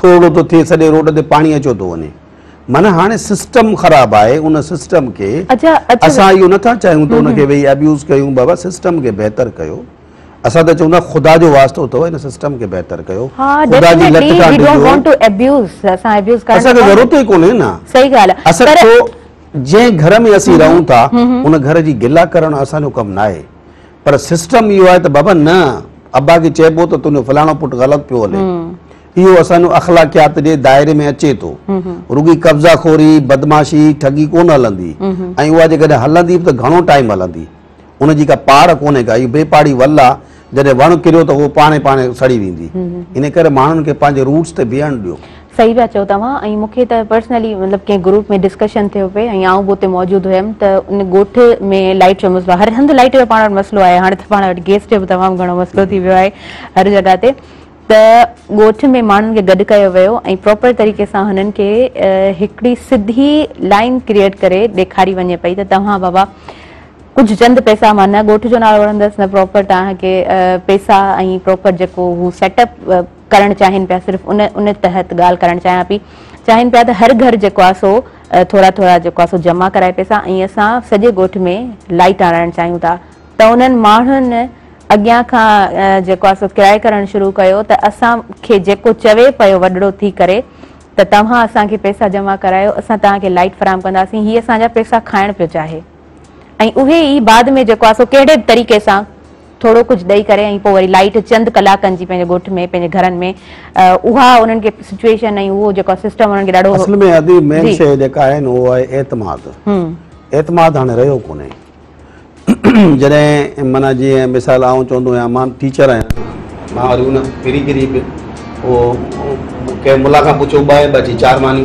ٿورڙو ٿو ٿئي سڄي روڊ تي پاڻي اچيو ٿو وڃي معنيٰ هاڻي سسٽم خراب آهي ان سسٽم کي اسان اهو نٿا چاهيون ته ان کي ويهي ابيوز ڪيون بابا سسٽم کي بهتر ڪيو اسان ته چون ٿا خدا جو واسطو اٿو ان سسٽم کي بهتر ڪيو خدا جي لٽ کان ڊڄو اسان کي ضرورت ئي ڪونهي نه اصل ڇو جنهن گهر ۾ اسين رهون ٿا ان گهر جي گلا ڪرڻ اسان جو ڪم ناهي پر سسٽم اهو آهي ته بابا نه ابا کي چئبو ته تنهنجو فلاڻو پٽ غلط پيو هلي اهو اسان جو اخلاقيات جي دائري ۾ اچي ٿو رڳي قبضا خوري بدمعاشي ٺڳي ڪونه هلندي ۽ اها جيڪڏهن هلندي به ته گهڻو ٽائيم هلندي ان جي ڪا پاڙ ڪونهي ڪا اهو بي پاڙي ول آهي جڏهن وڻ ڪريو ته اهو پاڻي پاڻي سڙي ويندي ان ڪري ماڻهن کي پنهنجي روٽس تي بيهڻ ڏيو صحيح پيا چئو توهان ۽ مون کي ته پرسنلي مطلب ڪنهن گروپ ۾ ڊسڪشن ٿيو پئي ۽ آئون به اتي موجود هيم ته ان ڳوٺ ۾ لائٽ جو مسئلو هر هنڌ لائٽ جو پاڻ وٽ مسئلو آهي هاڻي ته پاڻ وٽ گيس جو به تمام گهڻو مسئلو ٿي ويو آهي هر جڳهه تي ته ڳوٺ ۾ ماڻهن کي گڏ ڪيو ويو ۽ پراپر طريقي سان هنن کي هڪڙي سڌي لائين ڪريئيٽ ڪري ڏيکاري وڃي پئي ته توهان بابا ڪجهه چند پئسا مان نه ڳوٺ جو نالو وٺندس نه پراپر توهان کي پئسا ۽ پراپر جيڪو هو سيٽ اپ ڪرڻ چاهين پيا صرف ان ان تحت ڳالهه ڪرڻ چاهيان پي چاهين پيا ته هر گهر جيڪو آ سو ٿورا ٿورا جيڪو آ سو جمع ڪرائي پيسا ۽ اسان سڄي ڳوٺ ۾ لائيٽ آڻائڻ چاهيون ٿا ته انهن ماڻهن اڳيان کان جيڪو آ سو ڪرائي ڪرڻ شروع ڪيو ته اسان کي جيڪو چوي پيو وڏڙو ٿي ڪري ته توهان اسان کي پيسا جمع ڪرايو اسان توهان کي لائيٽ فراهم ڪنداسين هي اسان جا پيسا کائڻ پيو چاهي. ۽ اهي ئي بعد ۾ جيڪو آهي سو ڪهڙي به طريقي سان ٿورو ڪجهه ڏئي ڪري ۽ پوء وري لائيٽ چند ڪلاڪن جي پنهنجي ڳوٺ ۾ پنهنجي گهرن ۾ اها انهن کي سچوئيشن ۽ اهو جيڪو سسٽم انهن کي ڏاڍو اصل ۾ ادي مين شيء جيڪا آهي نه اهو آهي اعتماد اعتماد هاڻي رهيو ڪونهي جڏهن معنيٰ جيئن مثال آئون چوندو آهيان مان ٽيچر آهيان مان وري ان پھرين پھرين به اهو ڪنهن ملا کان پڇيو ٻه ۽ ٻه جي چار معني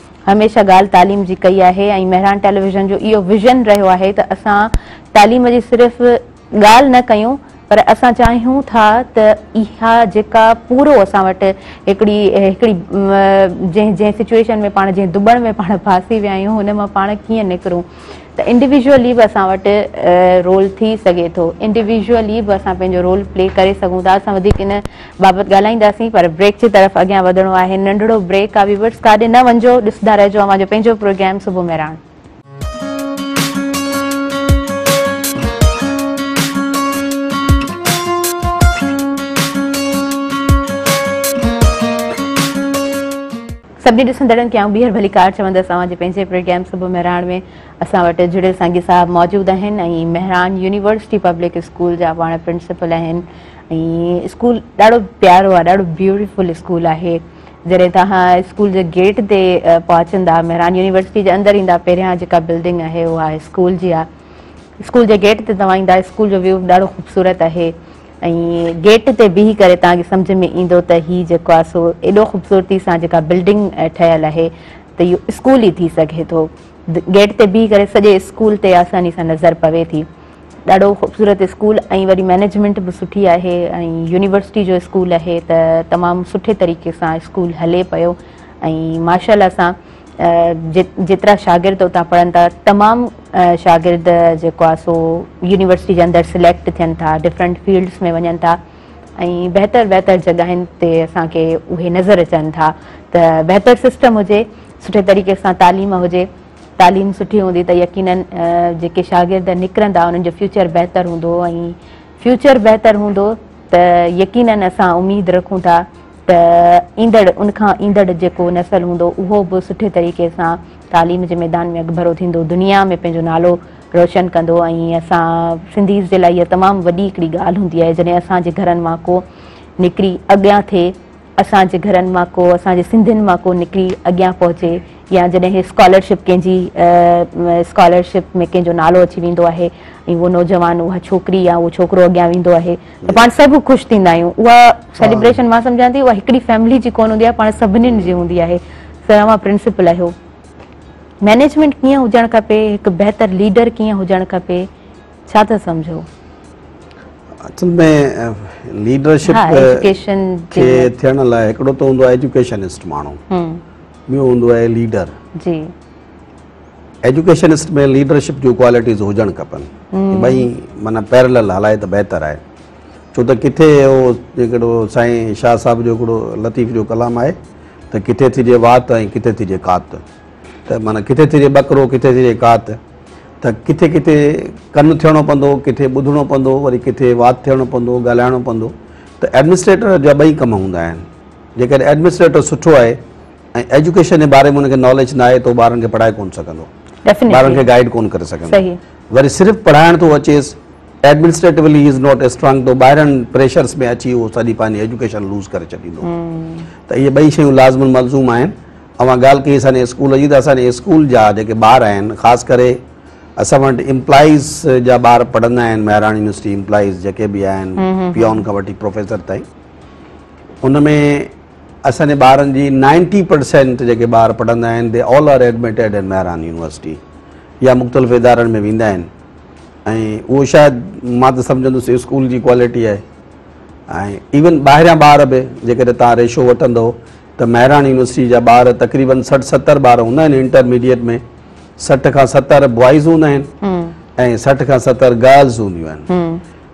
هميشه ڳالهه تعليم جي ڪئي آهي ۽ مهراڻ ٽيليويزن جو اهو ويزن رهيو آهي ته اسان تعليم جي صرف ڳالهه نه ڪيون پر اسان چاهيون ٿا ته اها جيڪا پورو اسان وٽ هڪڙي هڪڙي جنهن جنهن سچويشن ۾ پاڻ جنهن دٻڻ ۾ پاڻ ڦاسي ويا آهيون ان مان پاڻ ڪيئن نڪرون ته انڊيويزولي به اسان وٽ رول ٿي سگهي ٿو انڊيويزولي به اسان پنهنجو رول پلي ڪري سگهون ٿا اسان وڌيڪ ان بابت ڳالهائينداسين پر بريڪ جي طرف اڳيان وڌڻو آهي ننڍڙو بريڪ آهي ويورس ڪاڏي نه وڃجو ڏسندا رهجو اوهان جو پنهنجو پروگرام صبح مهراڻ سڀني ڏسندڙن کي آئون ٻيهر ڀليڪار چوندس اوهان جي پنهنجي پروگرام صبح مهراڻ ۾ اسان وٽ جڙيل سانگي صاحب موجود آهن ۽ مهراڻ يونيورسٽي پبلڪ اسڪول جا پاڻ پرنسپل آهن ۽ اسڪول ڏاڍو پيارو آهي ڏاڍو بيوٽيفل اسڪول آهي جڏهن توهان اسڪول جي گيٽ تي پهچندا مهراڻ يونيورسٽي جي اندر ايندا پهريان جيڪا بلڊنگ آهي اها اسڪول جي آهي اسڪول جي گيٽ تي توهان ايندا اسڪول جو ويو ڏاڍو خوبصورت آهي ۽ گيٽ تي بيهي ڪري توهان کي سمجهه ۾ ايندو ته هي جيڪو آهي سو ايڏو خوبصورتي سان جيڪا بلڊنگ ٺهيل آهي ته اهو اسڪول ئي ٿي سگهي ٿو. گيٽ تي بيهي ڪري سڄي اسڪول تي آساني سان نظر پوي ٿي. ڏاڍو خوبصورت اسڪول ۽ وري مئنيجمينٽ به سٺي آهي ۽ يونيورسٽي جو اسڪول آهي ته تمام سٺي طريقي سان اسڪول هلي پيو ۽ ماشاءالله سان جيترا شاگرد اتان پڙهن ٿا تمام شاگرد جيڪو آهي سو يونيورسٽي جي اندر سليڪٽ ٿين ٿا ڊفرنٽ فيلڊس ۾ وڃن ٿا ۽ بهتر بهتر جڳهين تي اسان کي اهي نظر اچن ٿا ته بهتر سسٽم هجي سٺي طريقي سان تعليم هجي تعليم سٺي هوندي ته يقينن جيڪي شاگرد نڪرندا انهن جو فيوچر بهتر هوندو ۽ فيوچر بهتر هوندو ته يقينن اسان اميد رکون ٿا ته ايندڙ ان کان ايندڙ جيڪو نسل هوندو اهو به سٺي طريقي سان تعليم جي ميدان ۾ اڳڀرو ٿيندو دنيا ۾ پنهنجو نالو روشن ڪندو ۽ اسان سنڌيز جي لاء اها تمام وڏي هڪڙي ڳالهه هوندي آهي جڏهن اسان جي گهرن مان ڪو نڪري اڳيان ٿئي اسان جي گهرن مان ڪو اسان جي سنڌين مان ڪو نڪري اڳيان پهچي يا جڏهن اسڪالرشپ ڪنهن جي اسڪالرشپ ۾ ڪنهن جو نالو اچي ويندو آهي ۽ اهو نوجوان اها ڇوڪري يا اهو ڇوڪرو اڳيان ويندو آهي ته پاڻ سڀ خوش ٿيندا آهيون اها سيليبريشن مان سمجهان ٿي اها هڪڙي فيملي جي ڪونه هوندي آهي پاڻ سڀني جي هوندي آهي سر اوهان پرنسپل آهيو مينيجمينٽ ڪيئن هجڻ کپي هڪ بهتر ليڊر ڪيئن هجڻ کپي ڇا ٿا سمجهو اصل ۾ ليڊرشپ کي ٿيڻ لاء هڪڙو ته هوندو آهي ايجوڪيشنسٽ ماڻهو ٻيو هوندو آهي ليڊر جي ايجوڪيشنسٽ ۾ ليڊرشپ جون ڪوالٽيز هجڻ کپن ٻئي معنيٰ پيرلل هلائي ته بهتر آهي ڇو ته ڪٿي اهو هڪڙو سائين شاهه صاحب جو هڪڙو لطيف جو ڪلام آهي ته ڪٿي ٿجي وات ۽ ڪٿي ٿجي ڪات ته معنيٰ ڪٿي ٿجي ٻڪرو ڪٿي ٿجي ڪات ته ڪٿي ڪٿي ڪن ٿيڻو پوندو ڪٿي ٻڌڻو پوندو وري ڪٿي وات ٿيڻو پوندو ڳالهائڻو پوندو ته ايڊمنسٽريٽر جا ٻئي ڪم هوندا آهن جيڪڏهن ايڊمنسٽريٽر سٺو آهي ۽ ايجوڪيشن جي باري ۾ ان کي ناليج ناهي ته هو ٻارن کي پڙهائي ڪونه سگهندو ٻارن کي گائيڊ ڪونه ڪري سگهندو وري صرف پڙهائڻ ٿو اچيس administratively he is not strong to ٻاهرن پريشرس ۾ اچي هو سڄي پنهنجي ايجوڪيشن لوز ڪري ڇڏيندو ته اهي ٻئي شيون لازم الملزوم آهن اوهان ڳالهه ڪئي اسان جي اسڪول جي ته اسان جي اسڪول جا جيڪي ٻار آهن خاص ڪري اسان وٽ امپلائيز جا ٻار پڙهندا آهن مهراڻ يونيورسٽي امپلائيز جيڪي بي آهن پيون کان وٺي پروفيسر تائين ان ۾ اسان جي ٻارن جي نائنٽي پرسينٽ جيڪي ٻار پڙهندا آهن they all are admitted in Mehran university يا مختلف ادارن ۾ ويندا آهن ۽ اهو شايد مان ته سمجهندس اسڪول جي ڪوالٽي آهي ۽ ايون ٻاهريان ٻار به جيڪڏهن تان ريشو وٺندو ته مهراڻ يونيورسٽي جا ٻار تقريبن سٺ ستر ٻار هوندا آهن انٽرميڊيٽ ۾ سٺ کان ستر بوائز هوندا آهن ۽ سٺ کان ستر گرلز هونديون آهن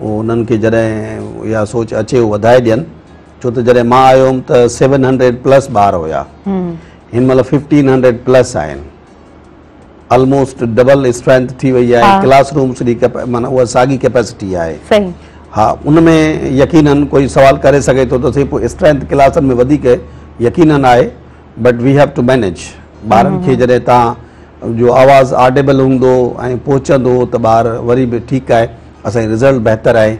انهن کي جڏهن اها سوچ اچي هو وڌائي ڏين ڇو ته جڏهن مان آيو هوم ته سيون هنڊريڊ پلس ٻار هيا هن مهل ففٽين هنڊريڊ پلس آهن آلموسٽ ڊبل اسٽرينٿ ٿي وئي آهي ڪلاس رومس جي مانا اها ساڳي ڪيپيسٽي آهي ها ان ۾ يقينن ڪوئي سوال ڪري سگهي ٿو ته سي پوء اسٽرينٿ ڪلاسن ۾ وڌيڪ يقينن آهي but we have to manage ٻارن کي جڏهن تان جو آواز آرڊيبل هوندو ۽ پهچندو ته ٻار وري به ٺيڪ آهي اسان جي رزلٽ بهتر آهي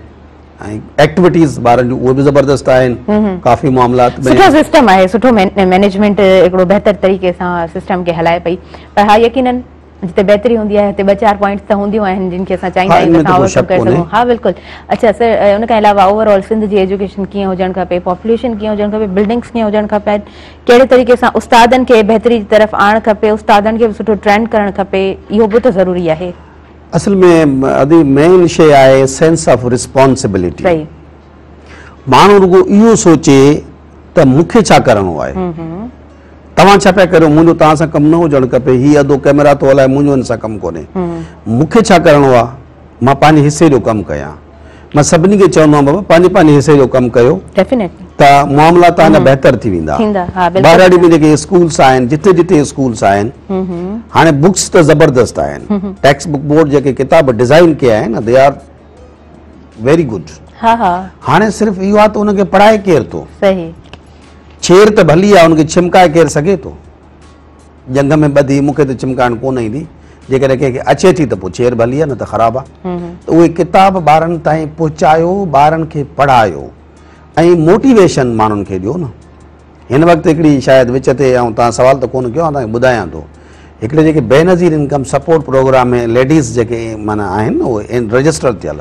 ۽ ايڪٽيوٽيز ٻارن جون اهي به زبردست آهن ڪافي معاملات ۾ سٺو سسٽم آهي سٺو مينيجمينٽ هڪڙو بهتر طريقي سان سسٽم کي هلائي پئي پر ها يقينن جتي بهتري هوندي آهي اتي ٻه چار پوائنٽس ته هونديون آهن جن کي اسان چاهيندا آهيون ته اسان اوور ڪم ڪري سگهون ها بلڪل اڇا سر ان کان علاوه اوور آل سنڌ جي ايجوڪيشن ڪيئن هجڻ کپي پاپوليشن ڪيئن هجڻ کپي بلڊنگس ڪيئن هجڻ کپن ڪهڙي طريقي سان استادن کي بهتري جي طرف آڻڻ کپي استادن کي به سٺو ٽرينڊ ڪرڻ کپي اهو به ته ضروري آهي اصل ۾ ادي مين شي آهي سينس آف ريسپانسبلٽي صحيح ماڻهو رڳو اهو سوچي ته مونکي ڇا ڪرڻو آهي توهان ڇا پيا ڪريو؟ منهنجو توهان سان ڪم نه هجڻ کپي. هي ادو ڪئميرا ٿو هلائي، منهنجو هن سان ڪم ڪونهي. مون کي ڇا ڪرڻو آ؟ مان پنهنجي حصي جو ڪم ڪيان. مان سڀني کي چوندو آهيان بابا پنهنجي پنهنجي حصي جو ڪم ڪيو ته معاملا توهان جا بهتر ٿي ويندا. ٻهراڙي ۾ جيڪي اسڪولس آهن، جتي جتي اسڪولس آهن، هاڻي بوڪس ته زبردست آهن. ٽيڪسٽ بوڪ بورڊ جيڪي ڪتاب ڊزائين ڪيا آهن نه دي آر ويري گڊ. هاڻي صرف اهو آ ته ان کي پڙهائي ڪير ٿو؟ شير ته ڀلي آ، ان کي ڇمڪائي ڪير سگهي ٿو؟ جنگ ۾ ٻڌي، مون کي ته ڇمڪائڻ ڪونه ايندي، جيڪڏهن ڪنهن کي اچي ٿي ته پوء شير ڀلي آ، نه ته خراب آ. ته اهي ڪتاب ٻارن تائين پهچايو، ٻارن کي پڙهايو ۽ موٽيويشن ماڻهن کي ڏيو نه. هن وقت هڪڙي شايد وچ تي آئون توهان سوال ته ڪونه ڪيو، آئون توهان کي ٻڌايان ٿو. هڪڙي جيڪي Benazir income support programme ۾ ladies جيڪي معنيٰ آهن نه اهي رجسٽر ٿيل،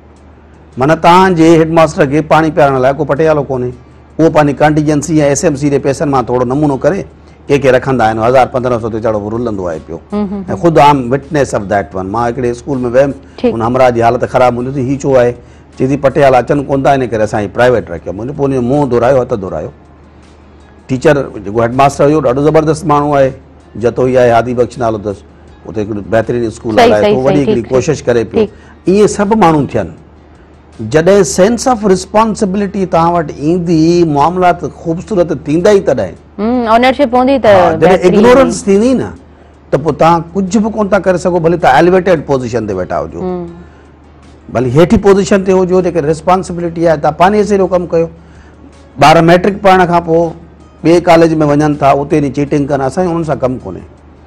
معنيٰ توهان جي هيڊ ماستر کي پاڻي پيارڻ لاء ڪو پٽيالو ڪونهي. اهو پنهنجي ڪنٽيجنسي ۽ ايس ايم سي جي پئسن مان ٿورڙو نمونو ڪري ڪي ڪي رکندا آهن. هزار پندرهن سؤ تي چڙو به رلندو آهي پيو ۽ خود I'm witness of that one. مان هڪڙي اسڪول ۾ ويم ان همراهه جي حالت خراب هوندي ٿي هي ڇو آهي؟ چي ٿي پٽيالا اچن ڪون ٿا ان ڪري اسان هي پرائيويٽ رکيو مون پوء ان جو منهن ڌورايو هٿ ڌورايو. ٽيچر جيڪو هيڊ ماستر هيو ڏاڍو زبردست ماڻهو آهي جتوئي آهي هادي بخش نالو اٿس. اتي هڪڙو بهترين اسڪول هلائي ٿو وڏي هڪڙي ڪوشش ڪري پيو اهي سڀ ماڻهو ٿين جڏهن سينس آف ريسپانسبلٽي توهان وٽ ايندي معاملات خوبصورت ٿيندا ئي تڏهن اونرشپ هوندي ته جڏهن اگنورنس ٿيندي نه ته پوء توهان ڪجهه به ڪون ٿا ڪري سگهو ڀلي توهان ايلويٽيڊ پوزيشن تي ويٺا هجو ڀلي هيٺي پوزيشن تي هجو جيڪي ريسپانسبلٽي آهي توهان پنهنجي حصي جو ڪم ڪيو ٻار ميٽرڪ پڙهڻ کان پوء ٻئي ڪاليج ۾ وڃن ٿا اتي چيٽنگ ڪن اسان جو انهن سان ڪم ڪونهي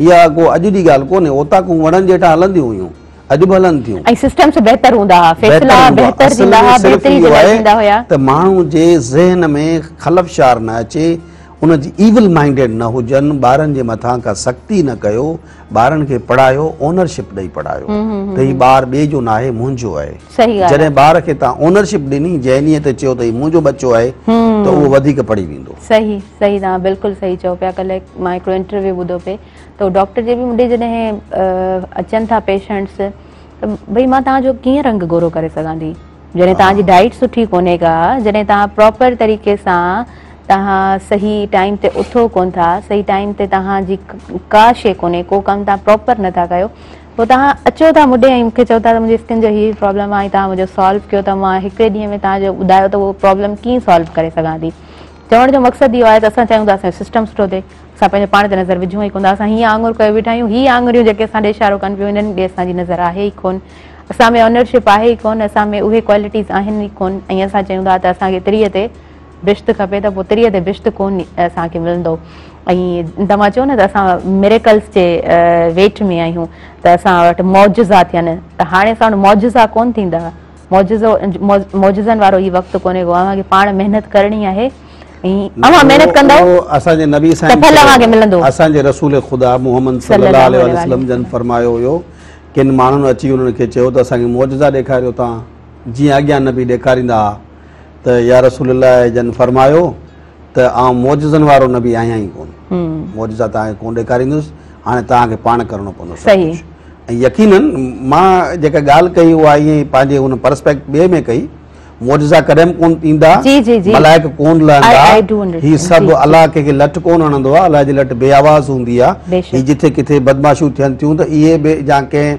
اها ڪو اڄ جي ڳالهه ڪونهي، اوطاقون وڻن جي هيٺان هلنديون هيون، اڄ به هلن ٿيون. ۽ سسٽمز بهتر هوندا هئا، فيصلا بهتر ٿيندا هئا، بهتري جي لاء ٿيندا هيا. ته ماڻهو جي ذهن ۾ خلفشار نه اچي، ان جي ايول مائنڊيڊ نه هجن، ٻارن جي مٿان ڪا سختي نه ڪيو، ٻارن کي پڙهايو، اونرشپ ڏئي پڙهايو ته هي ٻار ٻئي جو ناهي، منهنجو آهي. جڏهن ٻار کي توهان اونرشپ ڏني ذهنيء تي چيو ته هي منهنجو ٻچو آهي ته اهو وڌيڪ پڙهي ويندو. صحيح صحيح توهان بلڪل صحيح چئو پيا ڪلهه مان هڪڙو انٽرويو ٻڌو پئي ته ڊاڪٽر جي به مونڊي جڏهن اچن ٿا پيشنٽس ته ڀئي مان توهان جو ڪيئن رنگ گورو ڪري سگهان ٿي جڏهن توهان جي ڊائيٽ سٺي ڪونهي ڪا جڏهن توهان پراپر طريقي سان توهان صحيح ٽائيم تي اٿو ڪون ٿا صحيح ٽائيم تي توهان جي ڪا شيء ڪونهي ڪو ڪم توهان پراپر نٿا ڪيو پوء توهان اچو ٿا مون ڏي ۽ مون کي چئو ٿا ته منهنجي اسڪن جو هي پرابلم آهي ۽ توهان منهنجو سالو ڪيو ته مان هڪڙي ڏينهن ۾ توهان جو ٻڌايو ته اهو پرابلم ڪيئن سالو ڪري سگهان ٿي. چوڻ جو مقصد اهو آهي ته اسان چاهيون ته اسان جو سسٽم سٺو ٿئي. اسان پنهنجو پاڻ تي نظر وجهون ئي ڪونه ٿا. اسان هيئن آڱر ڪيو ويٺا آهيون. هي آڱريون جيڪي اسان ڏي اشارو ڪن پيون انهن ڏي اسان جي نظر آهي ئي ڪونه. اسان ۾ اونرشپ آهي ئي ڪونه. اسان ۾ اهي ڪوالٽيز آهن ئي ڪونه ۽ اسان چيون ٿا ته اسان کي تري تي بشت کپي ته پوء تريء تي بشت ڪونه اسان کي ملندو ۽ توهان چئو نه ته اسان ميريڪلز جي ويٽ ۾ آهيون ته اسان وٽ معجزا ٿين ته هاڻي اسان وٽ معجزا ڪونه ٿيندا معجزو معجزن وارو هي وقت ڪونهي ڪو اوهان کي پاڻ محنت ڪرڻي آهي ۽ اوهان محنت ڪندو اسان جي نبي سائين ته پھل اوهان کي ملندو اسان جي رسول خدا محمد صلي الله عليه وسلم جن فرمايو هيو ڪن ماڻهن اچي انهن کي چيو ته اسان کي معجزا ڏيکاريو توهان جيئن اڳيان نبي ڏيکاريندا ها ته يا رسول الله جن فرمايو ته آئون معجزن وارو نبي آهيان ئي ڪون معجزا توهان کي ڪون ڏيکاريندس هاڻي توهان کي پاڻ ڪرڻو پوندو صحيح ۽ يقينن مان جيڪا ڳالهه ڪئي اها ائين ئي پنهنجي ان پرسپيڪٽ ٻئي ۾ ڪئي معجزا ڪڏهن به ڪون ايندا ملائڪ ڪون لهندا هي سڀ الله ڪنهن کي لٽ ڪون هڻندو آهي الله جي لٽ بي آواز هوندي آهي هي جتي ڪٿي بدمعاشيون ٿين ٿيون ته اهي به جا ڪنهن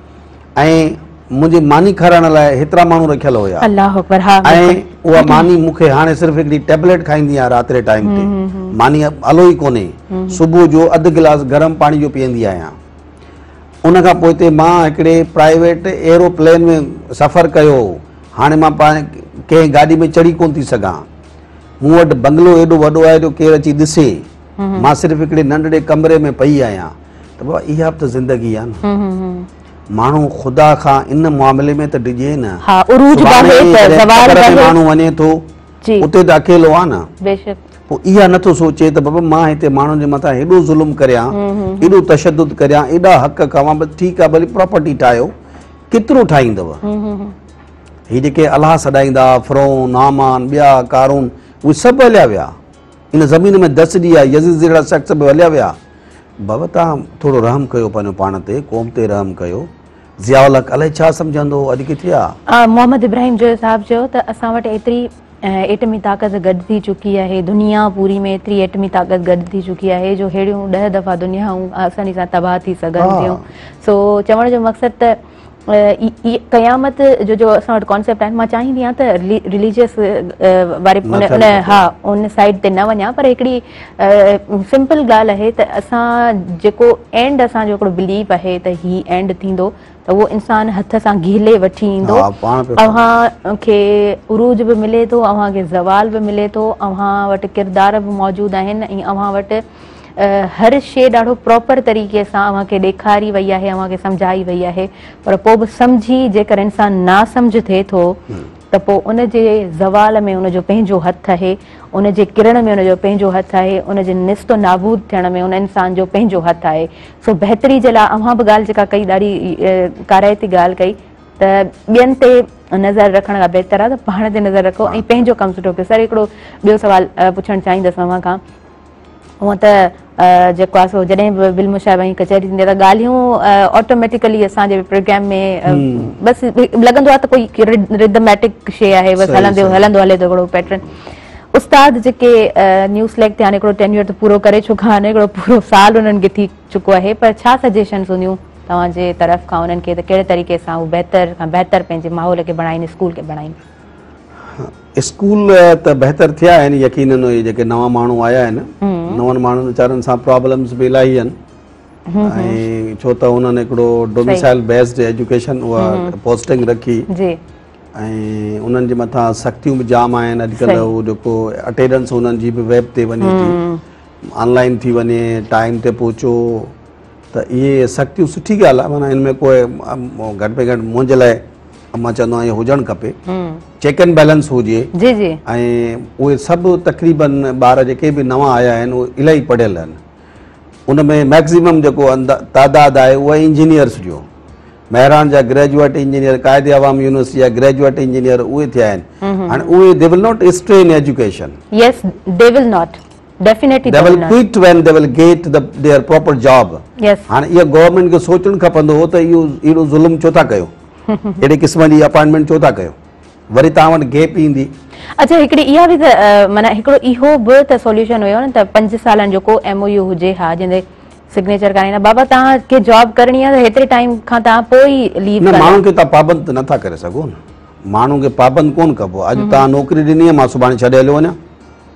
۽ منهنجي ماني کارائڻ لاء هيترا ماڻهو رکيل هيا ۽ اها ماني مون کي هاڻي صرف هڪڙي ٽيبليٽ کائيندي آهيان رات جي ٽائيم تي ماني آلو ئي ڪونهي صبح جو اڌ گلاس گرم پاڻي جو پيئندي آهيان ان کان پوء تي مان هڪڙي پرائيويٽ ايروپلين ۾ سفر ڪيو هاڻي مان پاڻ ڪنهن گاڏي ۾ چڙهي ڪونه ٿي سگهان مون وٽ بنگلو ايڏو وڏو آهي جو ڪير اچي ڏسي مان صرف هڪڙي ننڍڙي ڪمري ۾ پئي آهيان ته بابا اها به ته زندگي آهي نه ماڻهو خدا کان ان معاملي ۾ ته ڊڄي نه ماڻهو وڃي ٿو اتي ته اڪيلو آهي نه پوء اها نٿو سوچي ته بابا مان هتي ماڻهن جي مٿان هيڏو ظلم ڪريان هيڏو تشدد ڪريان هيڏا حق کواں بس ٺيڪ آهي ڀلي پراپرٽي ٺاهيو ڪيترو ٺاهيندو هي جيڪي الاهه سڏائيندا فرعون هامان ٻيا ڪارون اهي سڀ هليا ويا ان زمين ۾ دس ڏي آهي يزيد جهڙا شخص به هليا ويا بابا تان ٿورو رحم ڪيو پنهنجو پاڻ تي قوم تي رحم ڪيو ضياء الحق الائي ڇا سمجهندو اڄ ڪٿي آ. محمد ابراهيم جويو صاحب چيو ته اسان وٽ ايتري ايٽمي طاقت گڏ ٿي چڪي آهي دنيا پوري ۾ ايتري ايٽمي طاقت گڏ ٿي چڪي آهي جو ههڙيون ڏهه دفعا دنيائون آساني سان تباهه ٿي سگهن ٿيون سو چوڻ جو مقصد ته قيامت جو جو اسان وٽ ڪانسيپٽ آهن مان چاهيندي آهيان ته رليجيس واري ها ان سائيڊ تي نه وڃان پر هڪڙي سمپل ڳالهه آهي ته اسان جيڪو اينڊ اسان جو هڪڙو بليف آهي ته هي اينڊ ٿيندو ته اهو انسان هٿ سان گهلي وٺي ايندو اوهان کي عروج به ملي ٿو اوهان کي زوال به ملي ٿو اوهان وٽ ڪردار به موجود آهن ۽ اوهان وٽ هر شيء ڏاڍو پراپر طريقي سان اوهان کي ڏيکاري وئي آهي اوهان کي سمجهائي وئي آهي پر پوء به سمجهي جيڪر انسان ناسمجهه ٿئي ٿو ته پوء ان جي زوال ۾ ان جو پنهنجو هٿ آهي ان جي ڪرڻ ۾ ان جو پنهنجو هٿ آهي ان جي نست و نابود ٿيڻ ۾ ان انسان جو پنهنجو هٿ آهي سو بهتري جي لاء اوهان به ڳالهه جيڪا ڪئي ڏاڍي ڪارائتي ڳالهه ڪئي ته ٻين تي نظر رکڻ کان بهتر آهي ته پاڻ تي نظر رکو ۽ پنهنجو ڪم سٺو ڪيو سر هڪڙو ٻيو سوال پڇڻ چاهيندس اوهان کان هونء ته جيڪو آهي سو جڏهن به بل مشاهه ۽ ڪچهري ٿيندي آهي ته ڳالهيون آٽوميٽيڪلي اسان جي پروگرام ۾ بس لڳندو آهي ته ڪوئي رڌميٽڪ شيء آهي بس هلندو هلندو هلي ٿو هڪڙو پيٽرن استاد جيڪي نيو سليڪٽ ٿيا آهن هڪڙو ٽينيور ته پورو ڪري چڪا آهن هڪڙو پورو سال انهن کي ٿي چڪو آهي پر ڇا سجيشنس هونديون توهان جي طرف کان انهن کي ته ڪهڙي طريقي سان هو بهتر کان بهتر پنهنجي ماحول کي بڻائين اسڪول کي بڻائين اسڪول ته بهتر ٿيا آهن يقينن اهي جيڪي نوان ماڻهو آيا آهن نون ماڻهن ويچارن سان پرابلمز به الاهي آهن ۽ ڇو ته انهن هڪڙو ڊوميسائل بيسڊ ايجوڪيشن اها پوسٽنگ رکي جي ۽ انهن جي مٿان سختيون به جام آهن اڄڪلهه هو جيڪو اٽينڊنس انهن جي به ويب تي وڃي ٿي آن لائن ٿي وڃي ٽائيم تي پهچو ته اهي سختيون سٺي ڳالهه آهي معنيٰ ان ۾ ڪوئي گهٽ ۾ گهٽ منهنجي لاء مان چوندو آهيان هجڻ کپي چيڪ اينڊ بيلنس هجي ۽ اهي سڀ تقريبن ٻار جيڪي به نوان آيا آهن اهي الاهي پڙهيل آهن ان ۾ ميڪزيمم جيڪو تعداد آهي اهو انجنيئرس جو مهراڻ جا گريجوئيٽ انجنيئر قائدي عوام يونيورسٽي جا گريجوئيٽ انجنيئر اهي ٿيا آهن هاڻي اهي they will not strain education yes they will not definitely they will quit when they will get the their proper job هاڻي اهو گورنمينٽ کي سوچڻ کپندو هو ته اهو اهڙو ظلم ڇو ٿا ڪيو اهڙي قسم جي اپائنٽمينٽ ڇو ٿا ڪيو وري تان وٽ گيپ ايندي اچھا هڪڙي اها به ته معنيٰ هڪڙو اهو به ته سوليوشن هيو نه ته پنج سالن جو ڪو ايم او يو هجي ها جنهن تي سگنيچر ڪرائين ها بابا تان کي جاب ڪرڻي ها ته هيتري ٽائيم کان تان پوء ئي ليو نه ماڻهن کي تان پابند ته نٿا ڪري سگهو نه ماڻهن کي پابند ڪون ڪبو اڄ تان نوڪري ڏني ها مان سڀاڻي ڇڏي هليو وڃان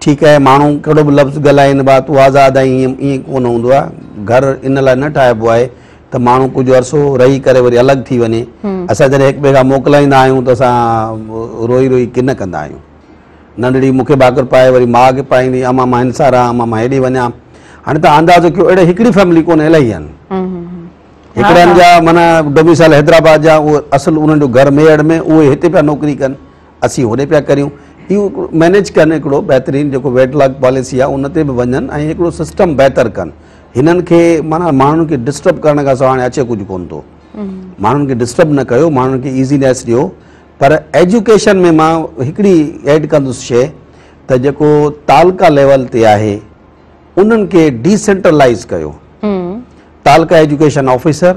ٺيڪ آهي ماڻهو ڪهڙو به لفظ ڳالهائين ڀا تون آزاد آهين ائين ڪونه هوندو آهي گهر ان لاء نه ٺاهبو آهي ته ماڻهو ڪجهه عرصو رهي ڪري وري الڳ ٿي وڃي اسان جڏهن هڪ ٻئي کان موڪلائيندا آهيون ته اسان روئي روئي ڪن ڪندا آهيون ننڍڙي مون کي ڀاڪر پائي وري ماء کي پائيندي اما مان هن سان رهان اما مان هيڏي وڃان هاڻي تان اندازو ڪيو اهڙي هڪڙي فيملي ڪونه الائي آهن هڪڙن جا مانا ڊوميسائل حيدرآباد جا اهو اصل انهن جو گهر ميهڙ ۾ اهي هتي پيا نوڪري ڪن اسين هوڏي پيا ڪريون اهو مينيج ڪن هڪڙو بهترين جيڪو ويٽ لاگ پاليسي آهي ان تي به وڃن ۽ هڪڙو سسٽم بهتر ڪن هنن کي مانا ماڻهن کي ڊسٽرب ڪرڻ کان سواء هاڻي اچي ڪجهه ڪون ٿو ماڻهن کي ڊسٽرب نه ڪيو ماڻهن کي ايزينيس ڏيو پر ايجوڪيشن ۾ مان هڪڙي ايڊ ڪندس شي ته جيڪو تعلقه ليول تي آهي انهن کي ڊيسينٽرلائز ڪيو تعلقه ايجوڪيشن آفيسر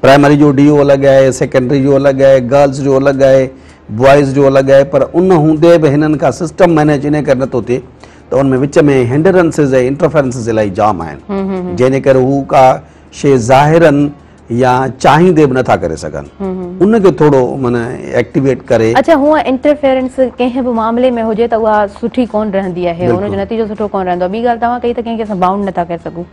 پرائمري جو ڊي او الڳ آهي، سيڪنڊري جو الڳ آهي، گرلس جو الڳ آهي، بوائز جو الڳ آهي پر ان هوندي به هنن کان سسٽم مئنيج انهي ڪري نٿو ٿئي ته ان ۾ وچ ۾ هنڊرنسز ۽ انٽرفيرنسز الائي جام آهن جنهن جي ڪري هو ڪا شيء ظاهرن يا چاهيندي به نٿا ڪري سگهن ان کي ٿورو معنيٰ ايڪٽيويٽ ڪري. اڇا هونء انٽرفيرنس ڪنهن به معاملي ۾ هجي ته اها سٺي ڪونه رهندي آهي ان جو نتيجو سٺو ڪونه رهندو آهي ٻي ڳالهه توهان ڪئي ته ڪنهن کي اسان بائونڊ نٿا ڪري سگهون.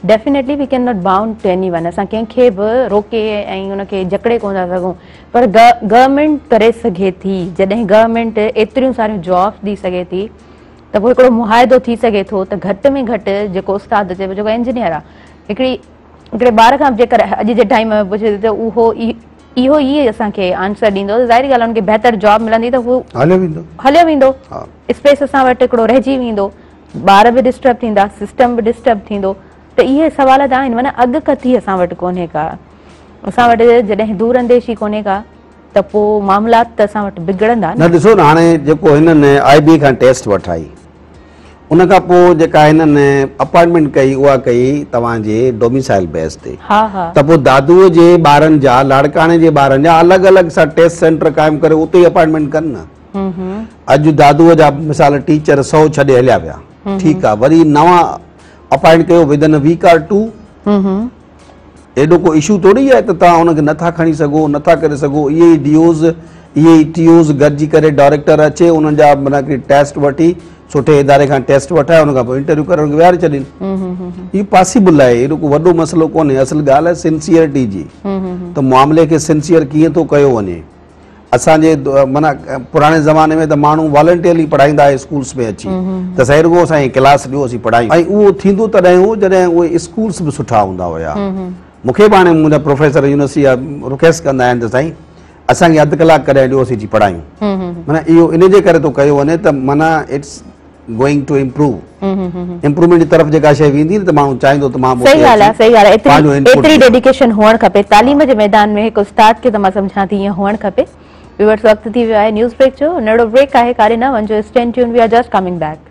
Definitely we can not bound to anyone اسان ڪنهن کي به روڪي ۽ ان کي جڪڙي ڪونه ٿا سگهون پر گورنمينٽ ڪري سگهي ٿي جڏهن گورنمينٽ ايتريون ساريون جابس ڏئي سگهي ٿي ته پوء هڪڙو معاهدو ٿي سگهي ٿو ته گهٽ ۾ گهٽ جيڪو استاد چئبو جيڪو انجنيئر آ هڪڙي هڪڙي ٻار کان جيڪر اڄ جي ٽائيم ۾ پڇي ته اهو اهو ئي اسان کي آنسر ڏيندو ته ظاهري ڳالهه ان کي بهتر جاب ملندي ته هو هليو ويندو هليو ويندو اسپيس اسان وٽ هڪڙو رهجي ويندو ٻار به ڊسٽرب ٿيندا سسٽم به ڊسٽرب ٿيندو ته اهي سوال ته آهن معنيٰ اڳڪٿي اسان وٽ ڪونهي ڪا اسان وٽ جڏهن دور انديشي ڪونهي ڪا ته پوء معاملات ته اسان وٽ بگڙندا نه ڏسو نه هاڻي جيڪو هنن آئي بي کان ٽيسٽ وٺائي ان کان پوء جيڪا هنن اپائنٽمينٽ ڪئي اها ڪئي توهان جي ڊوميسائل بيس تي ته پوء دادوء جي ٻارن جا لاڙڪاڻي جي ٻارن جا الڳ الڳ سا ٽيسٽ سينٽر قائم ڪري اتي ئي اپائنٽمينٽ ڪن نه اڄ دادوء جا مثال ٽيچر سو ڇڏي هليا ويا ٺيڪ آ وري نوان اپائنٽ ڪيو within week or two ايڏو ڪو اشو ٿوري آهي ته توهان ان کي نٿا کڻي سگهو نٿا ڪري سگهو اهي ئي ڊي اوز اهي ئي ٽي اوز گڏجي ڪري ڊائريڪٽر اچي انهن جا منا ڪري ٽيسٽ وٺي سٺي اداري کان ٽيسٽ وٺائي ان کان پوء انٽرويو ڪري ويهاري ڇڏين هي پاسيبل آهي اهڙو ڪو وڏو مسئلو ڪونهي اصل ڳالهه آهي سنسيئرٽي جي ته معاملي کي سنسيئر ڪيئن ٿو ڪيو وڃي اسان جي معنيٰ پراڻي زماني ۾ ته ماڻهو والنٽيئرلي پڙهائيندا هئا اسڪولس ۾ اچي ته سائين رڳو اسان کي ڪلاس ڏيو اسين پڙهايون ۽ اهو ٿيندو تڏهن هو جڏهن اهي اسڪولس به سٺا هوندا هيا مون کي به هاڻي منهنجا پروفيسر يونيورسٽي جا رڪويسٽ ڪندا آهن ته سائين اسان کي اڌ ڪلاڪ ڪڏهن ڏيو اسين اچي پڙهايون معنيٰ اهو ان جي ڪري ٿو ڪيو وڃي ته معنيٰ it's going to improve improvement جي طرف جيڪا شيء ويندي ته ماڻهو چاهيندو ته مان به صحيح ڳالهه آهي صحيح ڳالهه آهي پنهنجو انپوٽ ايتري ايتري ڊيڊيڪيشن هئڻ کپي تعليم جي ميدان ۾ هڪ استاد کي ته مان سمجهان ٿي ائين هئڻ کپي ويورس وقت ٿي ويو آهي نيوز بريڪ جو نيڙو بريڪ آهي ڪاري نه وڃجو اسٽين ٽيون we are just coming back